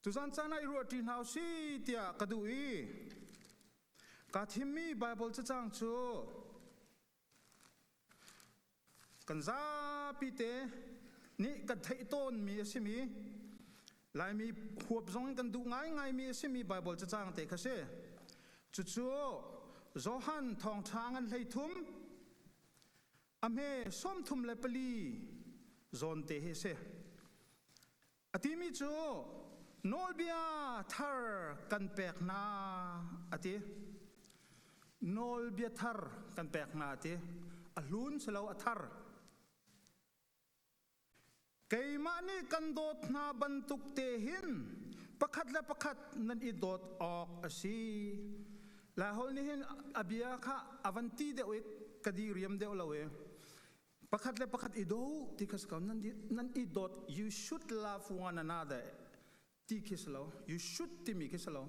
Tuzan caan ah i ruahṭi hna u si tiah ka duh i ka thimmi Baibal cacang cu kan zapi te nih kan theih tawnmi a simi Laimi huap zong in kan duh ngaingaimi a simi Baibal cacang te kha si. Cucu Johan Thawngṭha ngan hleithum a hme sawmthum le pali zawn te hi a si. A timi cu nawlbia thar kan pek hna a ti. Nawlbia thar kan pek hna a ti. A hlun si lo a thar. Keimah nih kan dawt hna bantuk te hin pakhat le pakhat nan i dawt awk a si. Lai hol nih hin a bia kha a van ti deuh i ka di riam deuh lo i pakhat le pakhat i do ti khas ko nan nan i dot you should love one another ti khi si lo you should timi khi si lo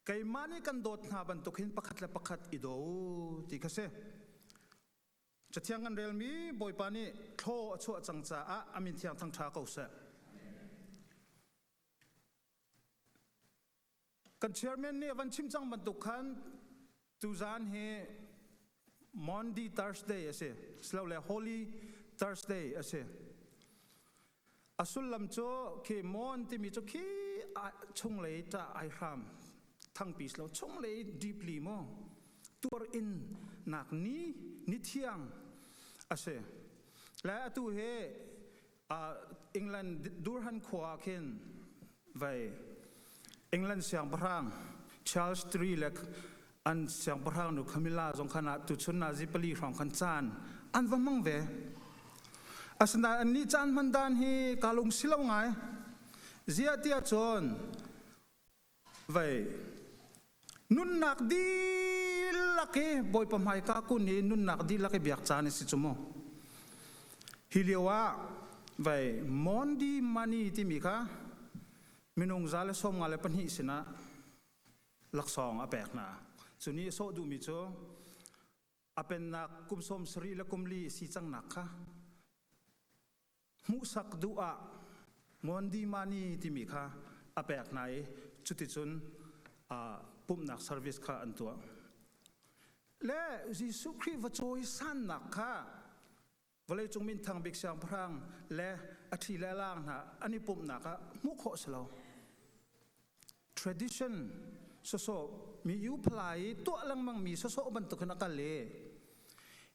keimah nih kan dawt hna bantuk hin pakhat le pakhat i do ti kha si cathiang an relmi bawipa nih thlo a chuah cang caah amin thiang thang ṭha ko seh kan chairman nih a van chim cang bantuk khan tuzaan hi Maundy Thursday a si silole Holy Thursday a si a sullam cu khi mon timi cu khi chunglei ta ai hram thangpi lo chunglei deeply mu tuar in nak ni ni thiang a si le atu hi England Durhan khua khin vai England siangpahrang Charles III le an siangpahrang nu Camilla zong khan ah tu chun na zi pali hrawng khan caan an va mang ve asinain an nih caan hman dan hi ka lung si lo ngai zia tia cun Vei nunnak dihlak hi Bawipa hmaika kun hi nunnak dihlak hi biak caan si cu mu. Hi lio ah vei mondi money timi kha minung za le sawm nga le pahnih sinah laksawng a pek hna. Cu nih sawh duhmi cu a pennak kum sawm sarih le kum li si cangnak kha Hmuhsak duh ah Mondimani timi kha a pek hna i cuticun pumhnak service kha an tuah. Le Jesuh Khrih va cawisannak kha vawleicung minthang bik siangpahrang le a thi le laang hna an i pumhnak ah hmuh khawh si lo. tradition sosawh mi u phalai tuah lengmang mi sosawh bantuk hin akal i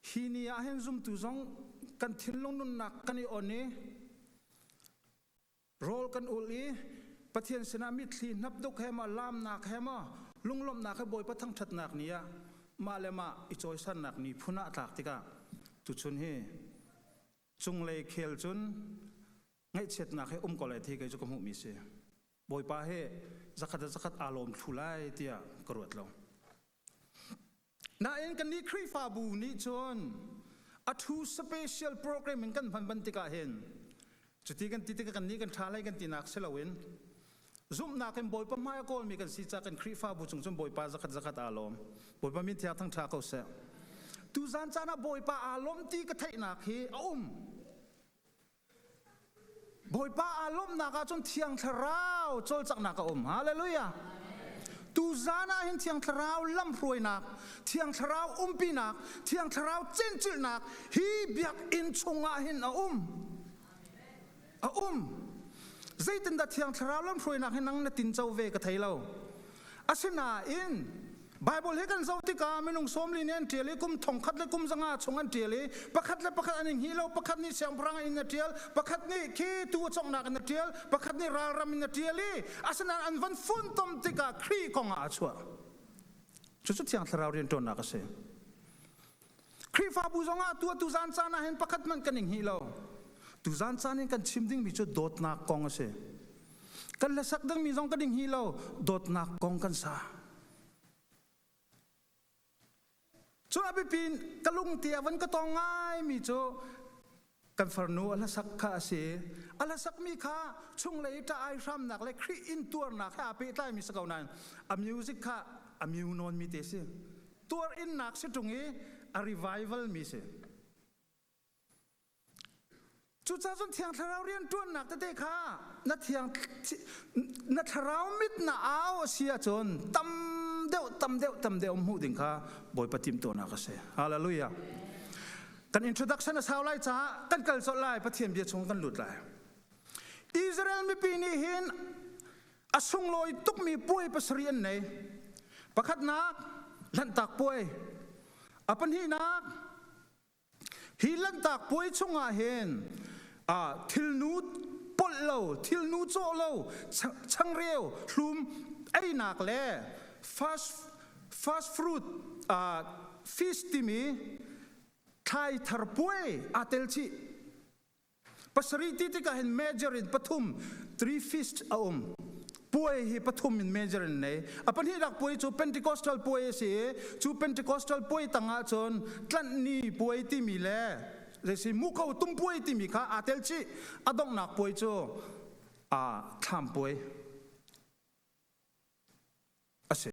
hi ni ah hin zumtu zong kan thinlung nunnak kan i on i rawl kan ul i pathian sinah mitthli hnap duk he ma lamnak he ma lunglawmhnak he bawipa thangthatnak ni ah mah le mah i cawisannak ni phun ah tlak tikah tuchun hi cunglei khel cun ngaihchiatnak he um ko lai thi kei cu ka hmuh mi si Bawipa he zakhat da zakhat aa lawm thlu lai tiah ka ruat lo. Nain kan nih Khrihfabu nih cun a thu special program in kan hman ban tikah hin cuti kan ti tikah kan nih kan ṭha lai kan tinak si loin zumhnak in Bawipa hmai a kawlmi kan si cah kan Khrihfabu chung cun Bawipa zakhat zakhat aa lawm. Bawipa min thiang thang ṭha ko seh. Tu zan caan ah Bawipa aa lawm ti ka theihnak hi a um. Bawipa aa lawmhnak ah cun Thiang Thlarau cawlcanghnak a um. Hallelujah. Tu zan ah hin Thiang Thlarau lamhruainak, Thiang Thlarau umpinak, Thiang Thlarau cinculhnak hi biakinn chungah hin a um. A um. Zeitindah Thiang Thlarau lamhruainak hi nang na tinco ve ka thei lo. Asinain Bible he kan zo tikah minung somli nih an tial i kum thongkhat le kum zanga chung an tial i pakhat le pakhat an i nghih lo pakhat nih siangpahrang in a tial pakhat nih khi tu conghnak in a tial pakhat nih ralram in a tial i asinain an van funtom tikah Khrih kong ah a chuah cucu thiang thlarau rianṭuannak a si Khrihfabu zongah tu tuzan caan ah hin pakhat hmanh kan ing hi lo. Tuzan caan in kan chim dingmi cu dawtnak kong a si. Kan le sak dingmi zong kan ding hi lo dawtnak kong kan sa. Cu a biapin ka lungte a van ka tong ngaimi cu kan farnu a hlasak kha a si a hlasakmi kha chunglei ṭah ai hramnak le Khrih intuarnak he aa pehtlaimi si ko nain a music kha a miu nawnmi te si tuar innak si ṭung i a revival mi si cucaah cun thiang thlarau rianṭuannak tete kha na thiang na thlarau mit na au a si ahcun tam deuh tam deuh tam deuh hmuh ding kha Bawipa timtuarnak a si hallelujah Kan introduction a sau lai caah kan kal colh lai Pathian bia chung kan lut lai. Israel mipi nih hin a sunglawi tukmi puai pasarih an nei. Pakhatnak Lanhtak puai. A pahnihnak hi Lanhtak puai chungah hin ah thilnu polh lo, thilnu cawh lo, changreu, hlum, einak le fast Fast fruit, fish timi thlai thar puai aa tel chih. Pasarih ti tikah hin major in pathum, three feasts a um. Puai hi pathum in major in nei. A pahnihnak puai cu Pentecostal puai a si i, cu Pentecostal puai tangah cun tlanhni puai timi le zeisi muko tum puai timi kha aa tel chih. A donghnak puai cu aa thlam puai. a si.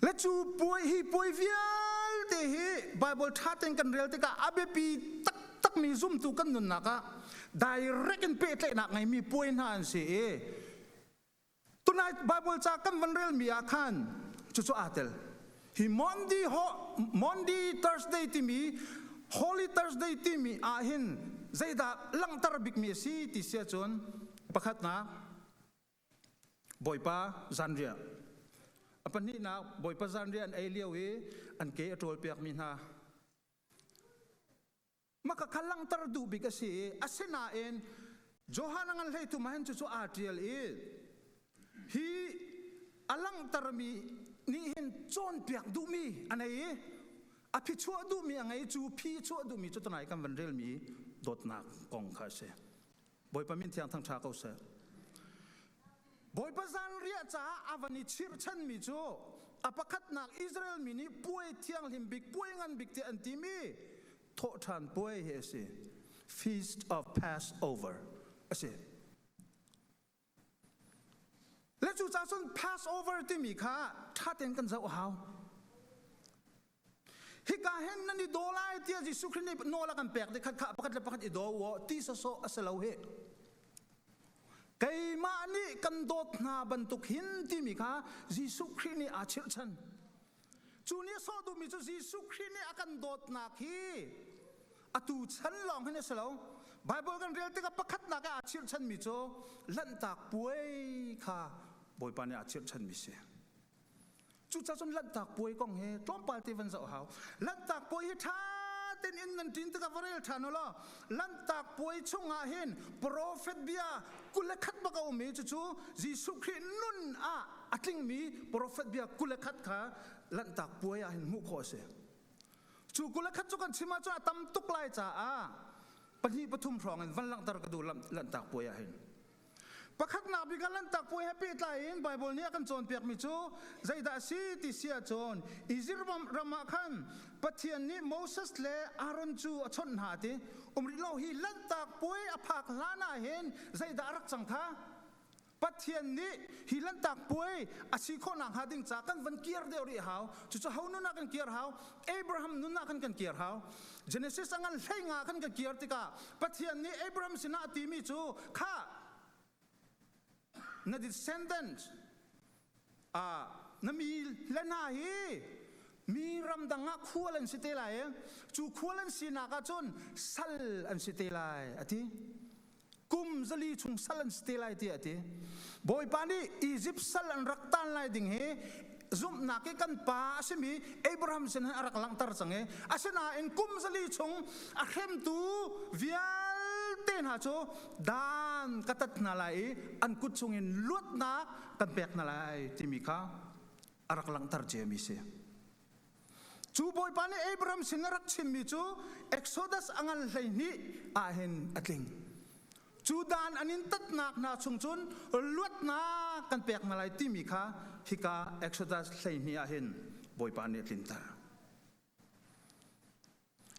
Le cu puai hi puai vialte hi Bible ṭha tein kan rel tikah a biapi taktakmi zumtu kan nunnak ah direct in pehtlaihnak ngeimi puai hna an si i tunai Bible ca kan van relmi ah khan cucu aa tel. Hi Monday, Monday Thursday timi Holy Thursday timi ah hin zeidah langhter bikmi a si ti sia cun pakhatnak Bawipa zanriah. A pahnihnak Bawipa zanriah an ei lio i an ke a ṭawlpiakmi hna maka kha langhter duh bik a si i asinain Johan a ngan hleitu mahin cucu aa ṭial i hi a langhtermi nih hin cawnpiak duhmi a nei i a phi chuah duhmi a ngei cu phi chuah duhmi cu tunai kan van relmi dawtnak kong kha a si. Bawipa min thiang thangtha ko seh. Bawipa zanriah caah a van i chirhchan mi cu a pakhatnak Israel mi nih puai thianghlim bik puai ngan bik tiah an timi thawhṭhan puai hi a si. Feast of Passover a si. Le cu ca cun Passover timi kha ṭha tein kan zoh a hau. Hika hen nan i daw lai tiah Jesuh Khrih nih nawl a kan pek dih khat kha pakhat le pakhat i daw u ti sawsawh a si lo hi. Keimah nih kan dawt hna bantuk hin timi kha Jesuh Khrih nih aa chirhchan. Cu ni sawh duhmi cu Jesuh Khrih nih a kan dawtnak hi atu chan lawng hin a si lo. Baibal kan rel tikah pakhatnak ah aa chirhchanmi cu Lanhtak Puai kha Bawipa nih aa chirhchanmi si. Cucaah cun Lanhtak Puai kong hi tlawmpal te van zoh hau. Lanhtak Puai hi ṭha tein in nan ṭin tikah va rel ṭhan u law Lanhtak puai chungah hin profet bia kule khat bak a ummi cu cu Jesuh Khrih nun ah a tlingmi profet bia kule khat kha lanhtak puai ah hin hmuh khawh a si. Cu kule khat cu kan chim ahcun a tam tuk lai caah pahnih pathum hrawng in van langhter ka duh lanhtak puai ah hin. Pakhatnak bik ah Lanhtak Puai he pehtlai in Baibal nih a kan cawnpiakmi cu zeidah a si ti si ahcun Izip ram ah khan Pathian nih Moses le Aaron cu a chawnh hna ti um rih lo hi Lanhtak Puai a phak hlan ah hin zeidah a rak cang tha? Pathian nih hi Lanhtak Puai a si khawh nak hnga ding ca kan van kir deuh rih hau cucu ho nunah kan kir hau Abraham nunah kan kan kir hau Genesis a ngan hlei nga khan ka kir tikah Pathian nih Abraham sinah a timi cu kha na descendant uh, na mi le hna hi mi ramdang ah khual an si te lai cu khual an sinak ah cun sal an si te lai a ti kum zali chung sal an si te lai tiah ti bawipa nih Egypt sal an rak tan lai ding hi zumhnak i kan pa a simi Abraham sin a rak langhter cang i asinain kum zali chung a hremtu vialte hna cu dan ka tat hna lai i an kut chungin luatnak kan pek hna lai timi kha a rak langhter ciami si Cu Bawipa nih Abraham sin a rak chimmi cu Exodus a ngan hleihnih ahhin a tling. Cu dan an in tatnak hna chung cun luatnak kan pek hna lai timi kha hika Exodus hleihnih ahhin Bawipa nih a tlinter.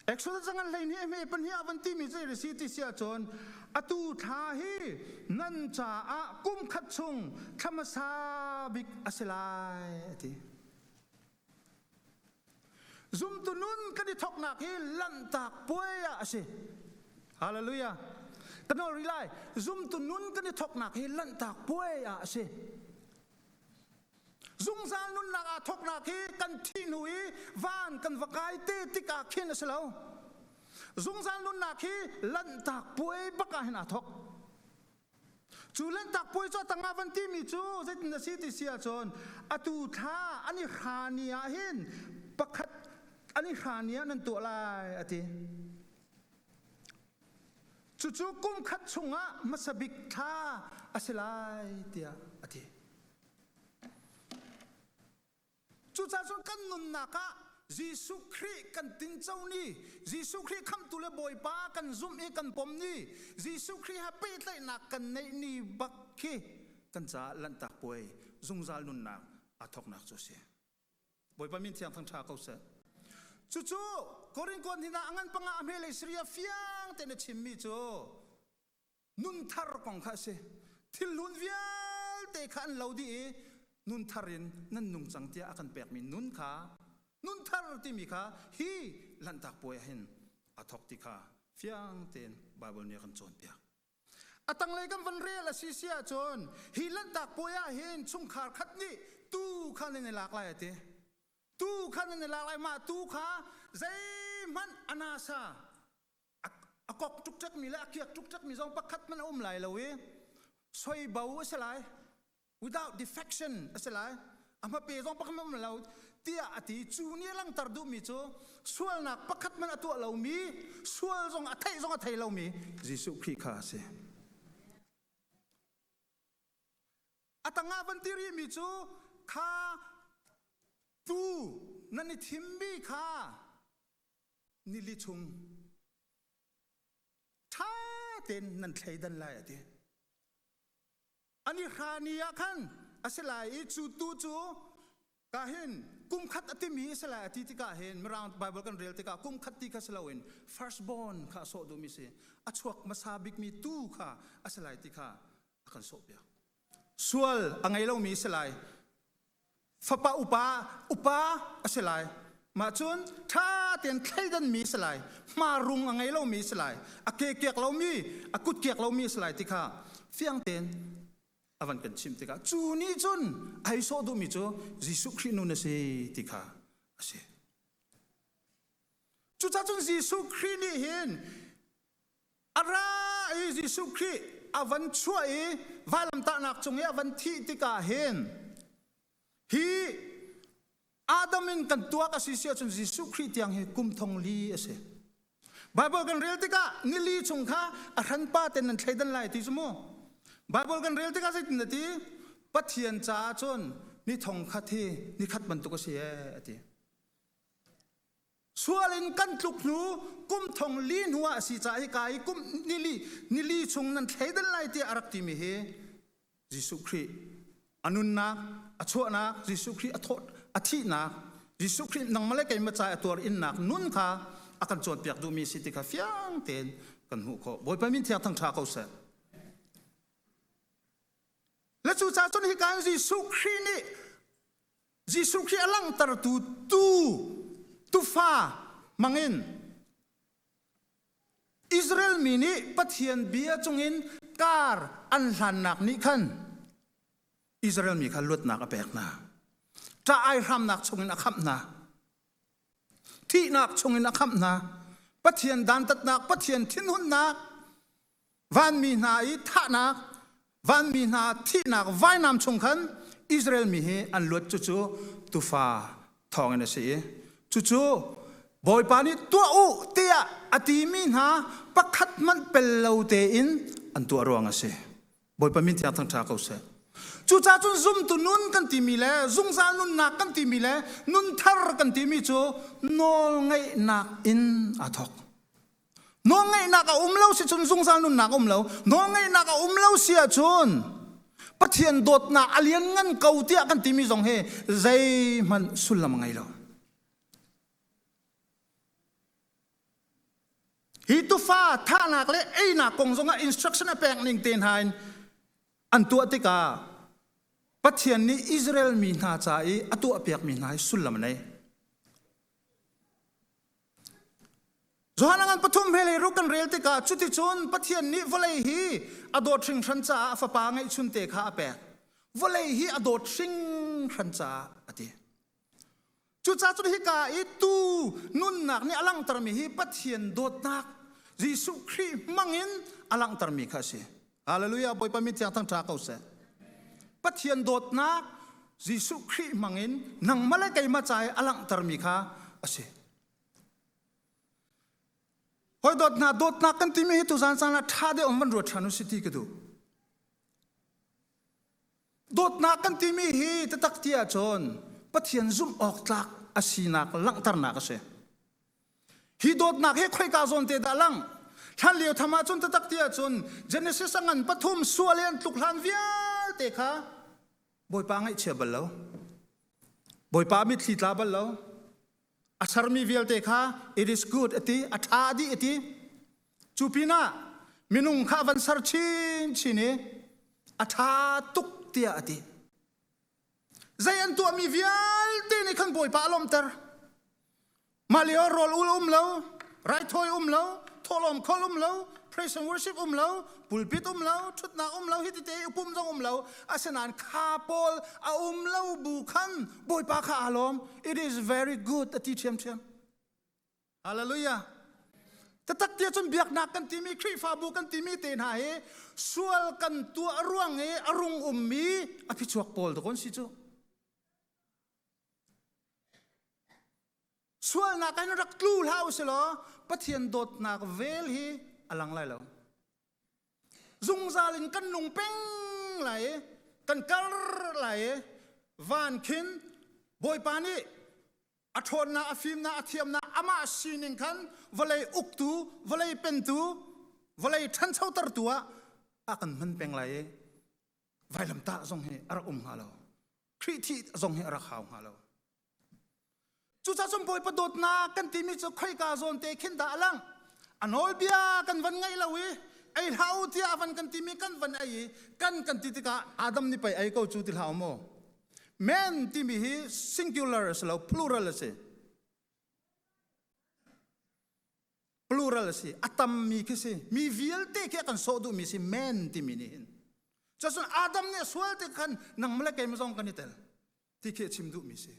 Exodus zangan hleihnih hme pahnih ah van timi zei risi ti sia cun atu thla hi nan caah kum khat chung thlamasa bik a si lai ati zumtu nun kan i thoknak hi lanhtak puai ah a si hallelujah kanol rilai zumtu nun kan i thoknak hi lanhtak puai ah a si Zungzal nunnak aa thawknak hi kan thih hnu i van kan va kai te tikah khin a si lo. Zungzal nunnak hi lanhtak puai bak ah hin aa thawk. Cu lanhtak puai cu tanga van timi cu zeitin a si ti si ahcun atu thla an i hrani ah hin pakhat an i hrani ah nan tuah lai a ti. Cucu kum khat chungah hmasa bik thla a si lai tiah a ti. Cucaah cun kan nunnak ah Jesuh Khrih kan tingco ni, Jesuh Khrih khamhtu le Bawipa kan zumh i kan pom ni, Jesuh Khrih he pehtlaihnak kan neih ni bak khi kan caah lanhtak puai zungzal nunnak aa thawknak cu a si. Bawipa min thiang thang ṭha ko seh. Cucu Korinth hnin ah ngan panga a hmelei Siria fiang tein a chimmi cu nun thar kong kha a si thilhlun vialte kha an lo dih i nun thar in nan nung cang tiah a kan pekmi nun kha nun thar timi kha hi lanhtak puai ah hin a thawk ti kha fiang tein Bible nih a kan cawnpiak a tanglei kan van rel a si si ahcun hi lanhtak puai ah hin chungkhar khat nih tu kha nan i lak lai a ti tu kha nan i lak lai mah tu kha zeihmanh a nasa a kok tuk ṭekmi le a kiak tuk ṭekmi zong pakhat hmanh a um lai lo i soibo a si lai without defection a si lai a hmape zong pakhat hmanh lo tiah a ti cu ni a langhter duhmi cu sualnak pakhat hmanh a tuah lomi sual zong a theih zong a thei lomi Jesuh Khrih kha a si a tangah van ti rihmi cu kha tuu nan i thimmi kha nili chung ṭha tein nan thleidan lai a ti ani hra ni ah khan a si lai i cu tu cu ka hin kum khat a timi a si lai a ti tikah hin mirang bible kan rel tikah kum khat ti kha si loin firstborn kha a sawh duhmi si a chuak hmasa bikmi tu kha a si lai ti kha a kan sawhpiak sual a ngei lomi a si lai fapa upa upa a si lai mah cun ṭha tein thleidanmi a si lai hmarung a ngei lomi a si lai a ke kiak lomi a kut kiak lomi a si lai ti kha fiang tein a van kan chim tikah cu ni cun ai sawh duhmi cu Jesuh Khrih nun a si ti kha a si cucahcun Jesuh Khrih nih hin A ra i Jesuh Khrih a van chuah i vailamtahnak cung i a van thih tikah hin hi Adam in kan tuak a si si ahcun Jesuh Khrih tiang hi kum thong li a si. Baibal kan rel tikah nili chung kha a hranpa ten nan thleidan lai ti cu mu. Baibal kan rel tikah zeitin a ti? Pathian caah cun ni thong khat hi ni khat bantuk a si ee a ti. sual in kan tluk hnu kum thong li hnu ah si ca hi ka i kum nili nili chung nan thleidel lai tiah a rak timi hi Jesuh Khrih a nunnak a chuahnak Jesuh Khrih a thawt a thihnak Jesuh Khrih nangmale keima ca a tuar innak nun kha a kan cawnpiak duhmi si ti kha fiang tein kan hmuh khawh Bawipa min thiang thangṭha ko seh le cu ca cun hi kan Jesuh Khrih nih Jesuh Khrih a langhtertu tuu tufa hmangin Israel mi nih Pathian bia cungin kar an hlannak nih khan Israel mi kha luatnak a pek hna. Ṭah ai hramnak chungin a khamh hna. Thihnak chungin a khamh hna. Pathian dantatnak, Pathian thinhunnak vanmi hna i thahnak vanmi hna thihnak vainam chung khan Israel mi hi an luat cucu tufa thawngin a si i cucu Bawipa nih tuah u tiah a timi hna pakhat hmanh pel lo tein an tuah ruang a si Bawipa min tiang thangṭha ko seh cucaah cun zumtu nun kan timi le zungzal nunnak kan timi le nunthar kan timi cu nawl ngeihnak in a thawk Nawlngeihnak a um lo si cun zungzal nunnak a um lo. Nawlngeihnak a um lo si ahcun Pathian dawtnak a lianngan ko tiah kan timi zong hi zeihmanh sullam ngei lo. Hi tufa thahnak le einak kong zongah instruction a pek ning te hna in an tuah tikah Pathian nih Israel mi hna ca i a tuah piakmi hna hi sullam a nei. Johan angan pathum he lei ruk kan rel tikah cuticun Pathian nih vawlei hi a dawt hringhran caah fapa ngeihchun te kha a pek. Vawlei hi a dawt hringhran caah a ti. Cucacun hika i tu nunnak nih a langhtermi hi Pathian dawtnak Jesuh Khrih hmangin a langhtermi kha a si. Hallelujah Bawipa mit thiang thang tha ko seh. Pathian dawtnak Jesuh Khrih mangin nang male keima cai alanghter mi kha asi. Hoi dawt hna dawtnak kan timi hi tu zan sang la tha de om van ruat than u si ti ka du. Dawtnak kan timi hi tatak ti ahcun Pathian zumh awk tlak a sinak langhternak a si. Hi dawtnak hi khoika zawn te dah lang? Thlan lio tham ahcun tatak ti ahcun Genesis angan pathum sual i an tluk hlan vialte kha Bawipa ngaihchia bal lo. Bawipa mitthli tla bal lo. a sermi vialte kha it is good a ti a ṭha dih a ti cu pinah minung kha van ser chinchin i a ṭha tuk tiah a ti zei an tuahmi vialte nih khan bawipa a lawmter mah lio rawl ul um lo raithawi um lo thawhlawm khol um lo praise and worship um lo pulpit um lo thutnak um lo hitite upum zong um lo asinain kha paul a um lo bu khan bawipa kha alom it is very good ati thiam thiam hallelujah tatak tia cun biaknak kan timi khrihfabu kan timi te hna hi sual kan tuah ruang i a rung ummi a phichuak pawl to kon si cu sualnak in rak tlu hlah u silaw Pathian dawtnak vel hi a lang lai lo zungzal in kan nung peng lai kan kar lai van khin bawipa nih a ṭhawnnak a fimnak a thiamnak amah sining khan vawlei uktu vawlei pentu vawlei ṭhanchotertu ah a kan hman peng lai i vailamtah zong hi a rak um hnga lo Khrih thih zong hi a rak hau hnga lo Cucacun Bawipa dawtnak kan timi cu khoika zawn te khin dah a lang. A nawlbia kan van ngaih lo i ei hlah u tiah a van kan timi kan van ei i kan kan ti tikah Adam nih pei ei ko cu ti hlah u maw. Men timi hi singular a si lo, plural a si. Plural a si. A tammi khi si. Mi vialte khi a kan sawh duhmi si men timi nih hin. Cucun Adam nih sual te khan nang male keimah zong kan i tel. ti khi chim duhmi si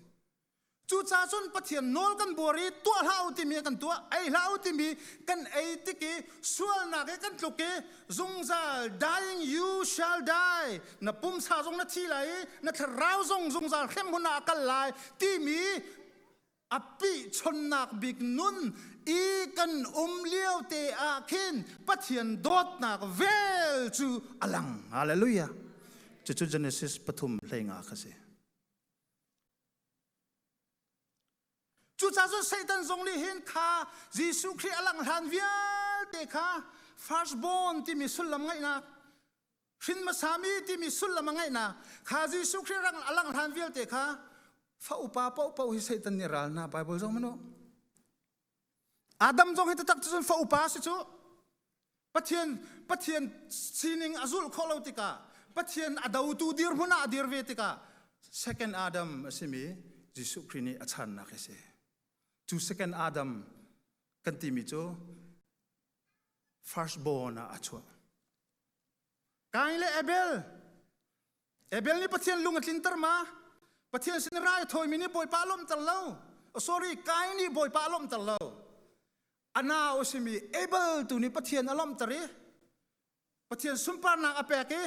cucaah cun pathian nawl kan buar i tuah hlah u timi kan tuah ei hlah u timi kan ei tik i sualnak i kan tluk i zungzal dying you shall die na pumsa zong na thi lai i na thlarau zong zungzal hrem hun ah a kal lai timi a pihchonnak bik nun i kan um lio te ah khin Pathian dawtnak vel cu a lang hallelujah cucu Genesis pathum hlei nga kha si cucah cun Satan zong nih hin kha Jesuh Khrih a lang hlan vialte kha firstborn timi sullam ngaihnak hrin masami timi sullam a ngeihnak kha Jesuh Khrih rang a lang hlan vialte kha fa upa popo hi Satan nih ral na Bible zong manu Adam zong hi tatak cun fa upa si cu Pathian Pathian sining a zul kho lo tikah Pathian a dotu dirhmun ah a dir ve tikah second Adam a simi Jesuh Khrih nih a channak hi si cu second Adam kan timi cu firstborn ah a chuah. Kain le Abel. Abel ni Pathian lung a tlinter ma. Pathian sin rai thoimi ni bawipa lom tel lo. Oh, sorry, Kain ni bawipa lom tel lo. Ana usimi able tu ni Pathian alom tar i. Pathian sumparnak a pek i.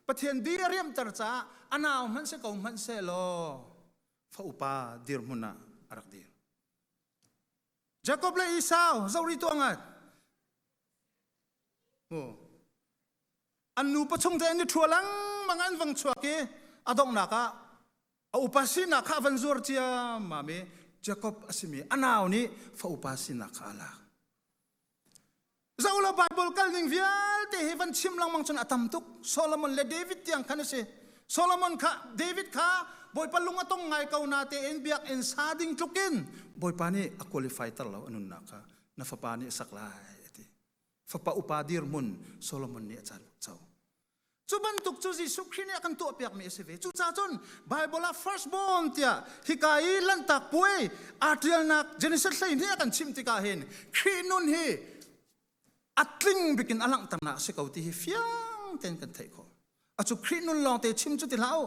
Pathian di a riam tar ca. Anau hman se ko hman se lo. Fa upa dirhmun ah a rak dir. Jacob le Esau zoh rih tuah ngat. An nupa chung te an i ṭhua langmang an vang chuak i a donghnak ah a upa sinak kha a van zuar ciammam i Jacob a simi a nau nih fa upa sinak kha a lak. Zola Bible kalning vialte hi van chim lengmang cun a tam tuk. Solomon le David tiang khan a si. Solomon kha David kha Bawipa lung a tong ngai ko na tein biakinn sa ding tlukin Bawipa nih a qualify ter lo anunnak kha na fapa nih a sak lai a ti. Fapa upa dirhmun Solomon nih a cal co. Cu bantuk cu Jesuh Khrih nih a kan tuahpiakmi a si ve. Cucaah cun Baibal ah firstborn tiah hika i Lanhtak Puai aa ṭialnak Genesis hleihnih a kan chimh tikah hin Khrih nun hi a tling bik in a langhternak a si ko ti hi fiang tein kan theih khawh. A cu Khrih nun lawngte chim cu ti hlah u.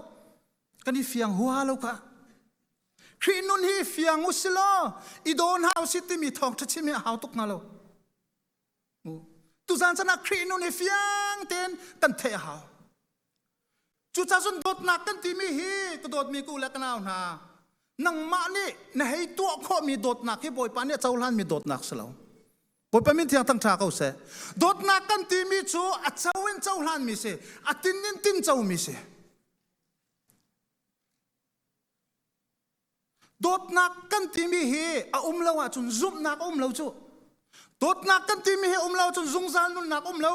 Kan i fiang hua lo kha. Khrih nun hi fiang u si law i dawn hna u si timi thawngṭha chim hi a hau tuk hna lo. Tuzan sanah Khrih nun hi fiang ten kan theih a hau. Cucah cun dawtnak kan timi hi ka dawtmi ku le ka nau hna nangmah nih na hei tuah khawhmi dawtnak hi Bawipa nih a cohlanmi dawtnak si lo. Bawipa min thiang thang ṭha ko seh. Dawtnak kan timi cu a co in cohlanmi si, a tin in tin comi si. dawtnak kan timi hi a um lo ahcun zumhnak a um lo cu dawtnak kan timi hi um lo ahcun zungzal nunnak um lo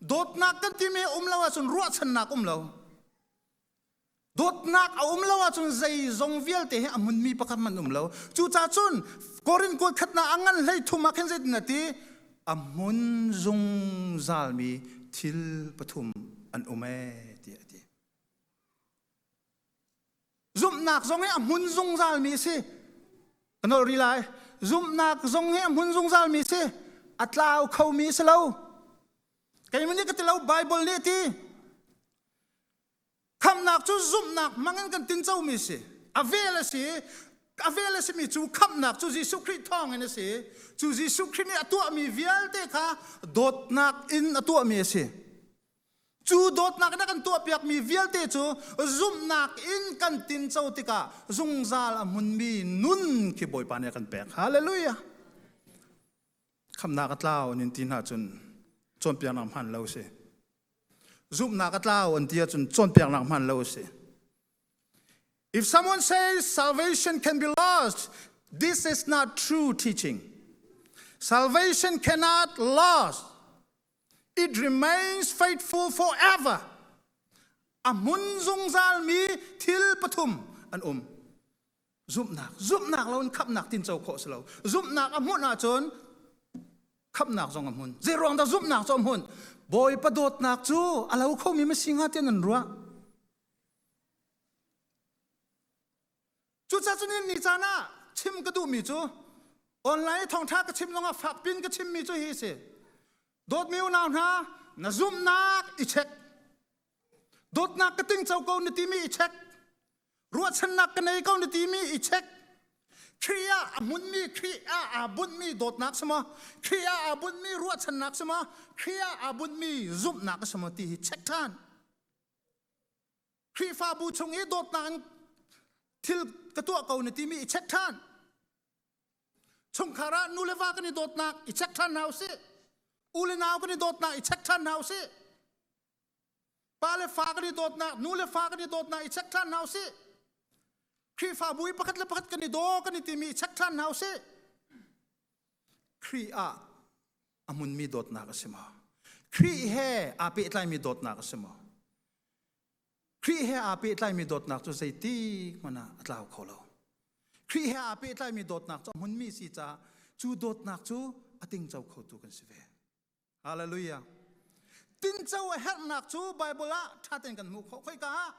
dawtnak kan timi hi um lo ahcun ruahchannak um lo dawtnak a um lo ahcun zeizong vialte hi a munmi pakhat man um lo cucah cun korin kual khatnak a ngan hlei thum ah khin zeitin a ti a mun zungzalmi thil pathum an um e ti a ti zumhnak zong hi a hmun zungzalmi a si ka nolh rih lai zumhnak zong hi a hmun zungzalmi a si a tlau khomi a si lo keimah nih ka ti lo bible nih ti khamnak cu zumhnak hmangin kan tincomi a si a vel a si a vel a simi cu khamnak cu Jesuh Khrih thawngin a si cu Jesuh Khrih nih a tuahmi vialte kha dawtnak in a tuahmi a si Cu dawtnak na kan tuahpiakmi vialte cu zumhnak in kan tinco tikah zungzal a hmunmi nun khi Bawipa nih a kan pek. Hallelujah! Khamnak a tlau an in ti hna cun cawnpiaknak hman lo si. Zumhnak a tlau an ti ahcun cawnpiaknak hman lo si. If someone says salvation can be lost, this is not true teaching. Salvation cannot last It remains faithful forever. A hmun zungzalmi thil pathum an um. Zumhnak. Zumhnak lo in khamnak tinco khawh si lo. Zumhnak a hmuh ahcun khamnak zong a hmun. Zei ruang dah zumhnak cu a hmun? Bawipa dawtnak cu a lo khomi masi hnga tian an ruah. Cucaah cun ni caan ah chim ka duhmi cu online i thawngṭha ka chim zongah fak piin ka chimmi cu hi a si. Dawtmi unau hna, na zumhnak i check. Dawtnak ka tingco ko na timi i check. Ruahchannak ka nei ko na timi i check. Khrih ah a hmunmi, Khrih ah aa bunhmi dawtnak si maw, Khrih ah aa bunhmi ruahchannak si maw, Khrih ah aa bunhmi zumhnak si maw ti hi check ṭhan. Khrihfabu chung i dawtnak in thil ka tuah ko na timi i check ṭhan. Chungkhar ah nu le va kan i dawtnak i check ṭhan hna u sih. U le nau kan i dawtnak i check ṭhan hna u sih. Pa le fa kan i dawtnak, nu le fa kan i dawtnak i check ṭhan hna u sih. Khrihfabu i pakhat le pakhat kan i daw kan i timi i check ṭhan hna u sih. Khrih ah a hmunmi dawtnak a si maw? Khrih he aa pehtlaimi dawtnak a si maw? Khrih he aa pehtlaimi dawtnak cu zeiti hmanh ah a tlau kho lo. Khrih he aa pehtlaimi dawtnak cu a hmunmi si caah cu dawtnak cu a tingco khotu kan si ve. Hallelujah. Tinco a herhnak cu Baibal ah ṭha tein kan hmuh khawh. Khoika ah?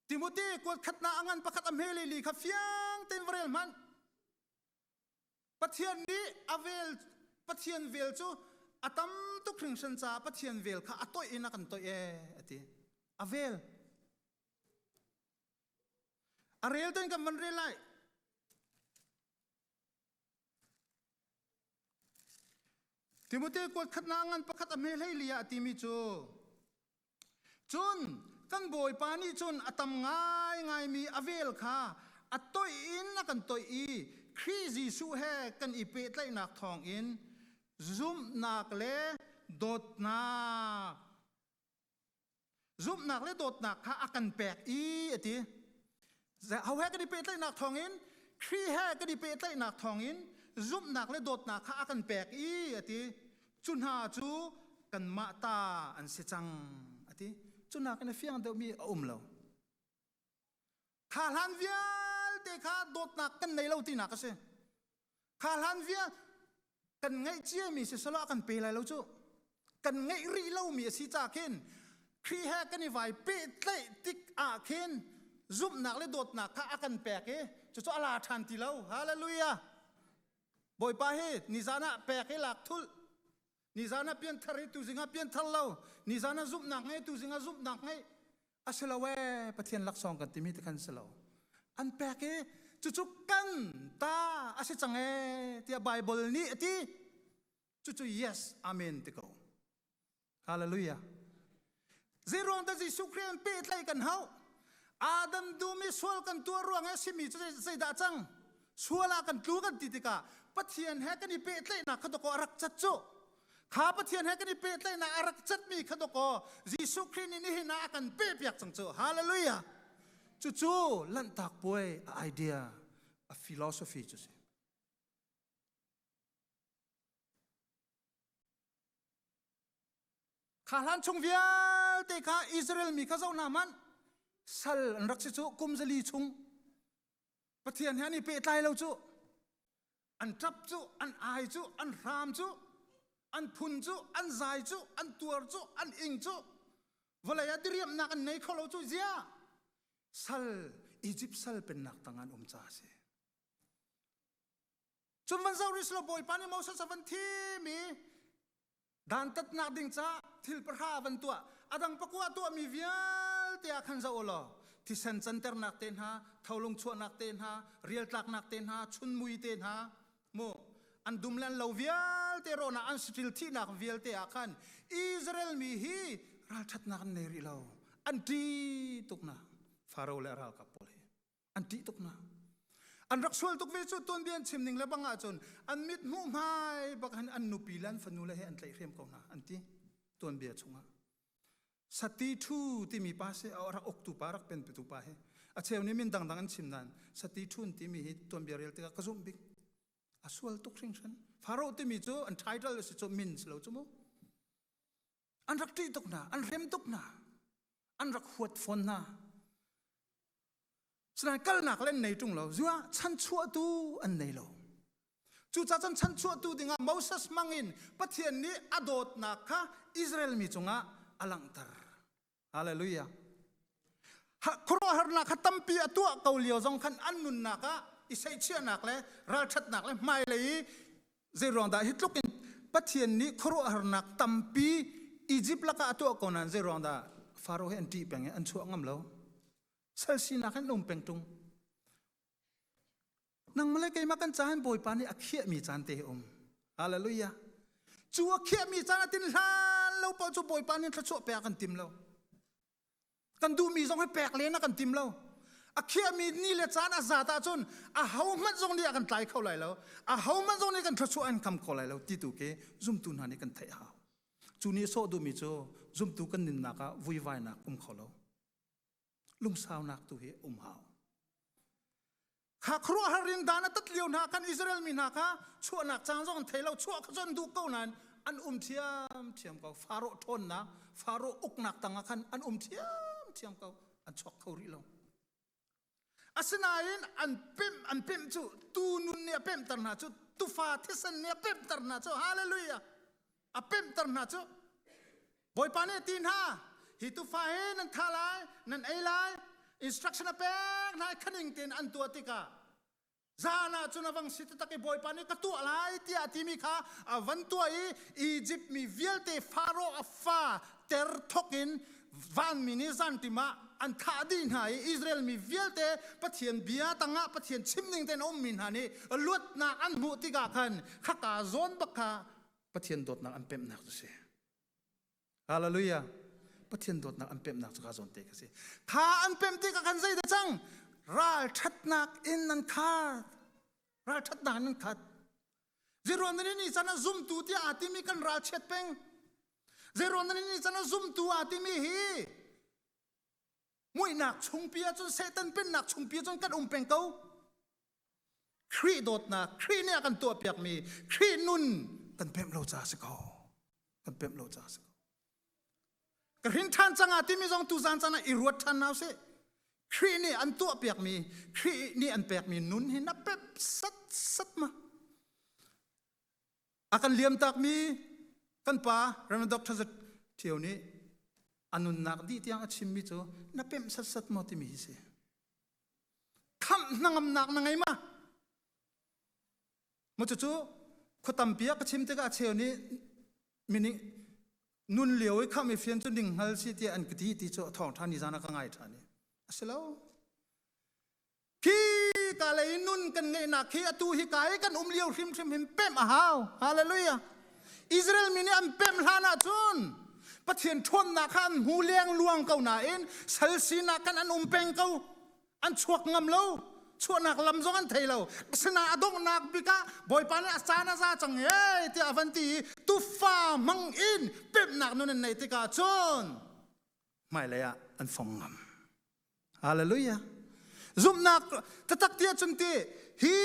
Timothy kuat khatnak a ngan pakhat a hme lili kha fiang tein va rel hmanh. Pathian nih a vel Pathian vel cu a tam tuk hringsen caah Pathian vel kha a toih in a kan toih ee a ti. A vel. A rel ten kan van rel lai. Timote kuat khatna ngan pakhat a hme hlei lia a timi cu Cun kan bawipa nih cun a tam ngaingaimi a vel kha a toih in a kan toih i Khrih Jesuh he kan i pehtlaihnak thawngin zumhnak le dawtnak zumhnak le dawtnak kha a kan pek i a ti. Ahohe kan i pehtlaihnak thawngin Kri he kan i pehtlaihnak thawngin zumhnak le dawtnak kha a kan pek i a ti cu hna cu kanmah ta an si cang a ti cu nakin a fiang deuhmi a um lo kha hlan vialte kha dawtnak kan nei lo tinak a si kha hlan via kan ngeih ciami si selaw kan pe lai lo cu kan ngeih rih lomi a si ca khin Khrih he kan i vai pehtlaih tik ah khin zumhnak le dawtnak kha a kan pek i cucu a la ṭhan ti lo hallelujah bawipa hi nizan ah pek hi lak thulh nizan ah pianthar hi tuzing ah pianthar lo nizan ah zumhnak ngei tuzing ah zumhnak ngei a si lo ee pathian laksawng kan timi te khan si lo an pek i cucu kan ta a si cang ee tiah bible nih a ti cucu yes amen ti ko hallelujah Zeiruang da Jesuh Khrih an pehtlaih kan hau. Adam dumi sual kan tuar ruang e simi cu zeidah cang? Sual ah kan tlu kan ti tikah Pathian he kan i pehtlaihnak kha doko a rak cat cu. Kha Pathian he kan i pehtlaihnak a rak catmi kha doko Jesuh Khrih nih nihin ah a kan pehpiak cang cu. Hallelujah! Cucu lanhtak puai a idea, a philosophy cu si. Kha hlan chung vialte kha Israel mi kha zo hna man sal an rak si cu kum zali chung Pathian he an i pehtlai lo cu an ṭap cu an ai cu an hram cu an phun cu an zai cu an tuar cu an ing cu vawlei ah diriamhnak an nei kho lo cu zia sal Izipt sal pennak tang an um ca a si Cun van zoh rih selaw Bawipa nih Moses a van thim i dantatnak ding ca thil pahra van tuah a dang pakua tuahmi vialte ah khan zoh u law thisen canternak te hna tholung chuahnak te hna rialtlaknak te hna chunmui te hna mu an dum le an lo vialte rawnah an siṭil thihnak vialte ah khan Israel mi hi ralṭhatnak an nei rih lo an ṭi tuknak Faro le ralkap pawl hi an tih tuk na an rak sual tuk ve cu tuan bi an chim ning le bang ah cun an mit hmuh hmai bak han an nupi le an fanu le he an tlaih hriam ko na an ti tuan bia chungah sati thu timi pa se a rak uktu pa rak pen petu pa he a cheu ni min dangdang an chim nan sati thun timi hi tuan bia rel tikah ka zum bik a sual tuk hring hran faro timi cu an title a si cu min si lo cu mu an rak ṭih tuk hna an hrem tuk hna an rak huat fawn hna sinain kalnak le an nei ṭung lo zuah chanchuahtu an nei lo cucaah cun chanchuahtu dingah Moses hmangin Pathian nih a dawtnak kha Israel mi cungah a langhter Hallelujah. Khuaruahharnak kha tampi a tuah ko lio zong khan an nunnak ah i seihchiahnak le ralṭhatnak le hmailei i zei ruang dah hi tluk in Pathian nih khuaruahharnak tampi Egypt laka a tuah ko nan zei ruang dah Faro he an ṭih peng i an chuah ngam lo sal sinak in um peng ṭung nang male keimah kan caan bawipa nih a khiahmi caan te um hallelujah cu a khiahmi caan a tin hlan lo paoh cu bawipa nih thluachuah pek kan tim lo kan duhmi zong hi pek len a kan tim lo a khiahmi ni le caan a zat ahcun a hohmanh zong nih a kan tlai kho lai lo a hohmanh zong nih kan thluachuah an kham kho lai lo ti tu khi zumtu hna nih kan theih hau cu ni sawh duhmi cu zumtu kan nunnak ah vuivainak um kho lo lungsaunak tu hi um hau kha khruah har in dan atat lio hna kan Israel mi hna kha chuahnak cang zong an thei lo chuah kha chon duh ko nain an um thiam thiam ko faro thonna faro uknak tanga khan an um thiam thiam ko an chuak kho ri lo asinain an pem an pem cu tu nun ni a pem tar hna cu tufa thisen ni a pem tar hna cu hallelujah a pemhter hna cu bawipa nih a ti hna hi tufa hi nan tha lai nan ei lai instruction a pek hna i khaning tein an tuah tikah zan ah cun a vang si taktak i bawipa nih ka tuah lai tiah a timi kha a van tuah i Egypt mi vialte faro a fa ter thok in vanmi nih zantim ah an thah dih hna i Israel mi vialte Pathian bia tangah Pathian chimning tein a ummi hna nih luatnak an hmuh tikah khan khaka zawn bak kha Pathian dawtnak an pemhnak cu si. Hallelujah. Pathian dawtnak an pemhnak cu ka zawn te ka si. Kha an pemh tikah khan zei cang ralṭhatnak in nan khat. Ralṭhatnak in nan khat. Ziruanani ni chan ah zumtu tiah aa timi kan ralchiat peng. Ziruanani ni chan ah zumtu aa timi hi muihnak chungpi ahcun Satan pennak chungpi ahcun kan um peng ko. Khrih dawtnak, Khrih nih a kan tuahpiakmi, Khrih nun kan pemh lo caah si ko. Kan pemh lo caah si ko. Ka hrin ṭhan cang ah timi zong tuzan caan ah i ruat ṭhan hau sih. Khrih nih an tuahpiakmi, Khrih nih an pekmi nun hi na pep sat sat ma. A kan liam takmi kan pa Reverend Dr. Zat Thio nih a nunnak dih tiang a chimmi cu na pemh sat sat maw timi hi si. Khamh hnangamnak na ngei ma? Mu cucu khua tampi ah ka chim tikah a cheu nih mening nun lio i kham i fian cu ning hngal si tiah an ka ti ti cu a thawng ṭhan i zan ah ka ngai ṭhan i a si lo. Khi ka lei nun kan ngeihnak khi atu hi ka i kan um lio hrimhrim hin pemh a hau. Hallelujah. Israel mi nih an pemh hlan ah cun Pathian ṭhawnnak kha an hmu lengluang ko nain sal sinak kan an um peng ko an chuak ngam lo chuahnak lam zong an thei lo asinain a donghnak bik ah bawipa nih a caan a za cang ee tiah a van ti i tufa mang in pemhnak nun an neih tikah cun hmailei ah an fong ngam hallelujah zumhnak tatak ti ahcun ti hi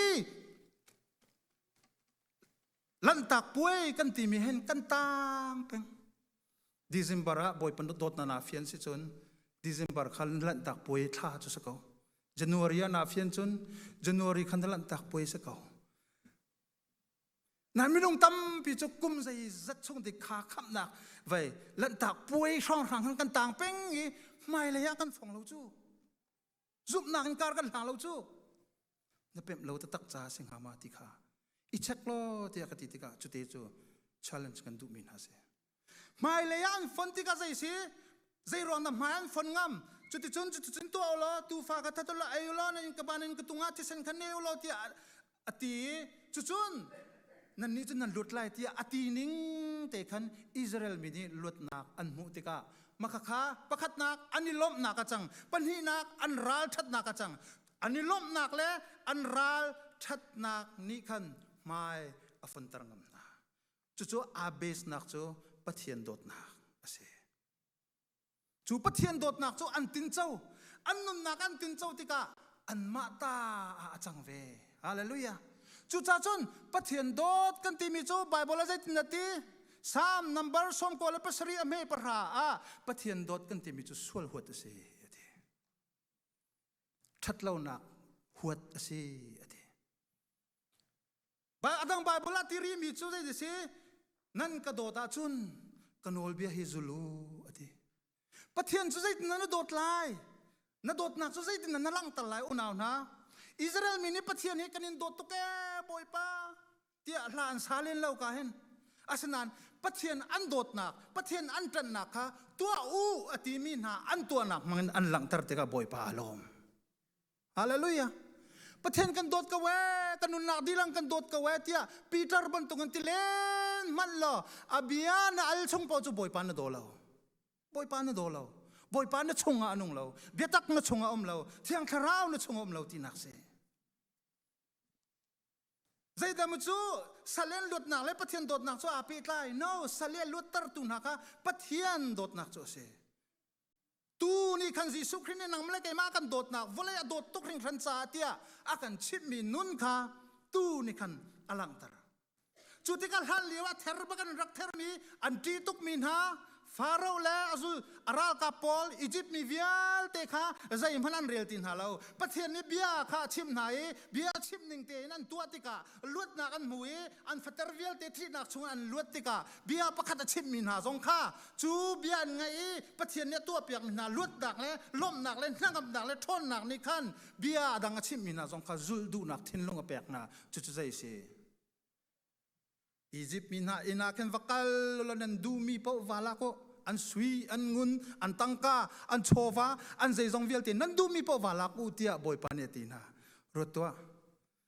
lanhtak puai kan timi hen kan tang peng December ah bawi pandut dawt na na fian si cun December khan lanhtak puai thla cu sa ko January ah na fian cun January khan lanhtak puai sa ko nan minung tampi cu kum zei zat chung ti kha khamnak vai lanhtak puai hrang hrang kan tang peng i hmailei ah kan phong lo cu zumhnak in kar kan hla lo cu na pemh lo taktak ca si hnga ma ti kha i check law tiah ka ti tikah cute cu challenge kan duhmi hna si hmailei ah an fon tikah zei si zei ruang na hmai an fon ngam cuticun cuticun tuah ulaw tufa ka thatu la ei ulaw na in ka ban in ka tung ah thisen khan ne ulaw tiah a ti i cucun nannih cu nan lut lai tiah a ti ning te khan Israel mi nih luatnak an hmuh tikah makhakha pakhatnak an i lawmhnak a cang pahnihnak an ral ṭhatnak a cang an i lawmhnak le an ral ṭhatnak nih khan hmai a funter ngam hna cucu abesnak cu pathian dawtnak a si Cu Pathian dawtnak cu an tinco. An nunnak an tinco tikah anmah ta ah a cang ve. Hallelujah! Cucaah cun Pathian dawt kan timi cu Baibal ah zeitin a ti? Salm number sawmkua le pasarih a hme pahra ah Pathian dawt kan timi cu sual huat a si a ti. Ṭhat lonak huat a si a ti. a dang Bible ah tiri mi cu zei si nan ka dawt ah cun ka nawlbia hi zul u a ti Pathian cu zeitin na dawt lai na dawtnak cu zeitin na langhter lai unau hna Israel mi nih Pathian hi kan in dawt tuk e bawipa tiah hla an sa len lo ka hin asinain Pathian an dawtnak Pathian an ṭannak kha tuah u a timi hna an tuahnak hmangin an langhter tikah bawipa a lawm Hallelujah. Pathian kan dawt ko e, kan nunnak dilang kan dawt ko e tia Peter bantuk an ti len mal lo abia na al chung po chu boipa na do lo. Boipa na do lo. Boipa na chung a anung lo. Biatak na chung a om lo. Thiang thlarau na chung om lo ti nak se. Zeidah mu cu salen luatnak le Pathian dawtnak cu api tlai. No, salen luattar tu hna ka Pathian dawtnak cu a si. tu ni khan Jesuh Khrist nih nang le keimah kan dawtnak vawlei a dawt tuk ring hran ca tiah a kan chimhmi nun kha tu ni khan a langhter cu tikah hlan lio ah ther bak an rak thermi an ṭi tukmi hna Faro le azu a ralkap pawl Egypt mi vialte kha zeihmanh an rel ti hna lo Pathian nih bia kha a chimh hna i bia chimh ning tein an tuah tikah luatnak an hmu i an fater vialte ṭihnak chung an luat tikah bia pakhat a chimmi hna zong kha cu bia an ngaih i Pathian nih a tuahpiakmi hna luatnak le lawmhnak le hnangamnak le ṭhawnnak nih khan bia a dang a chimmi hna zong kha zulh duhnak thinlung a pek hna cucu zei a si Izipt mi hna inn ah khin va kal law nan duhmi paoh va lak u an sui an ngun an tangka an chawva an zeizong vialte nan duhmi paoh va lak u tiah bawipa nih a ti hna ruat tuah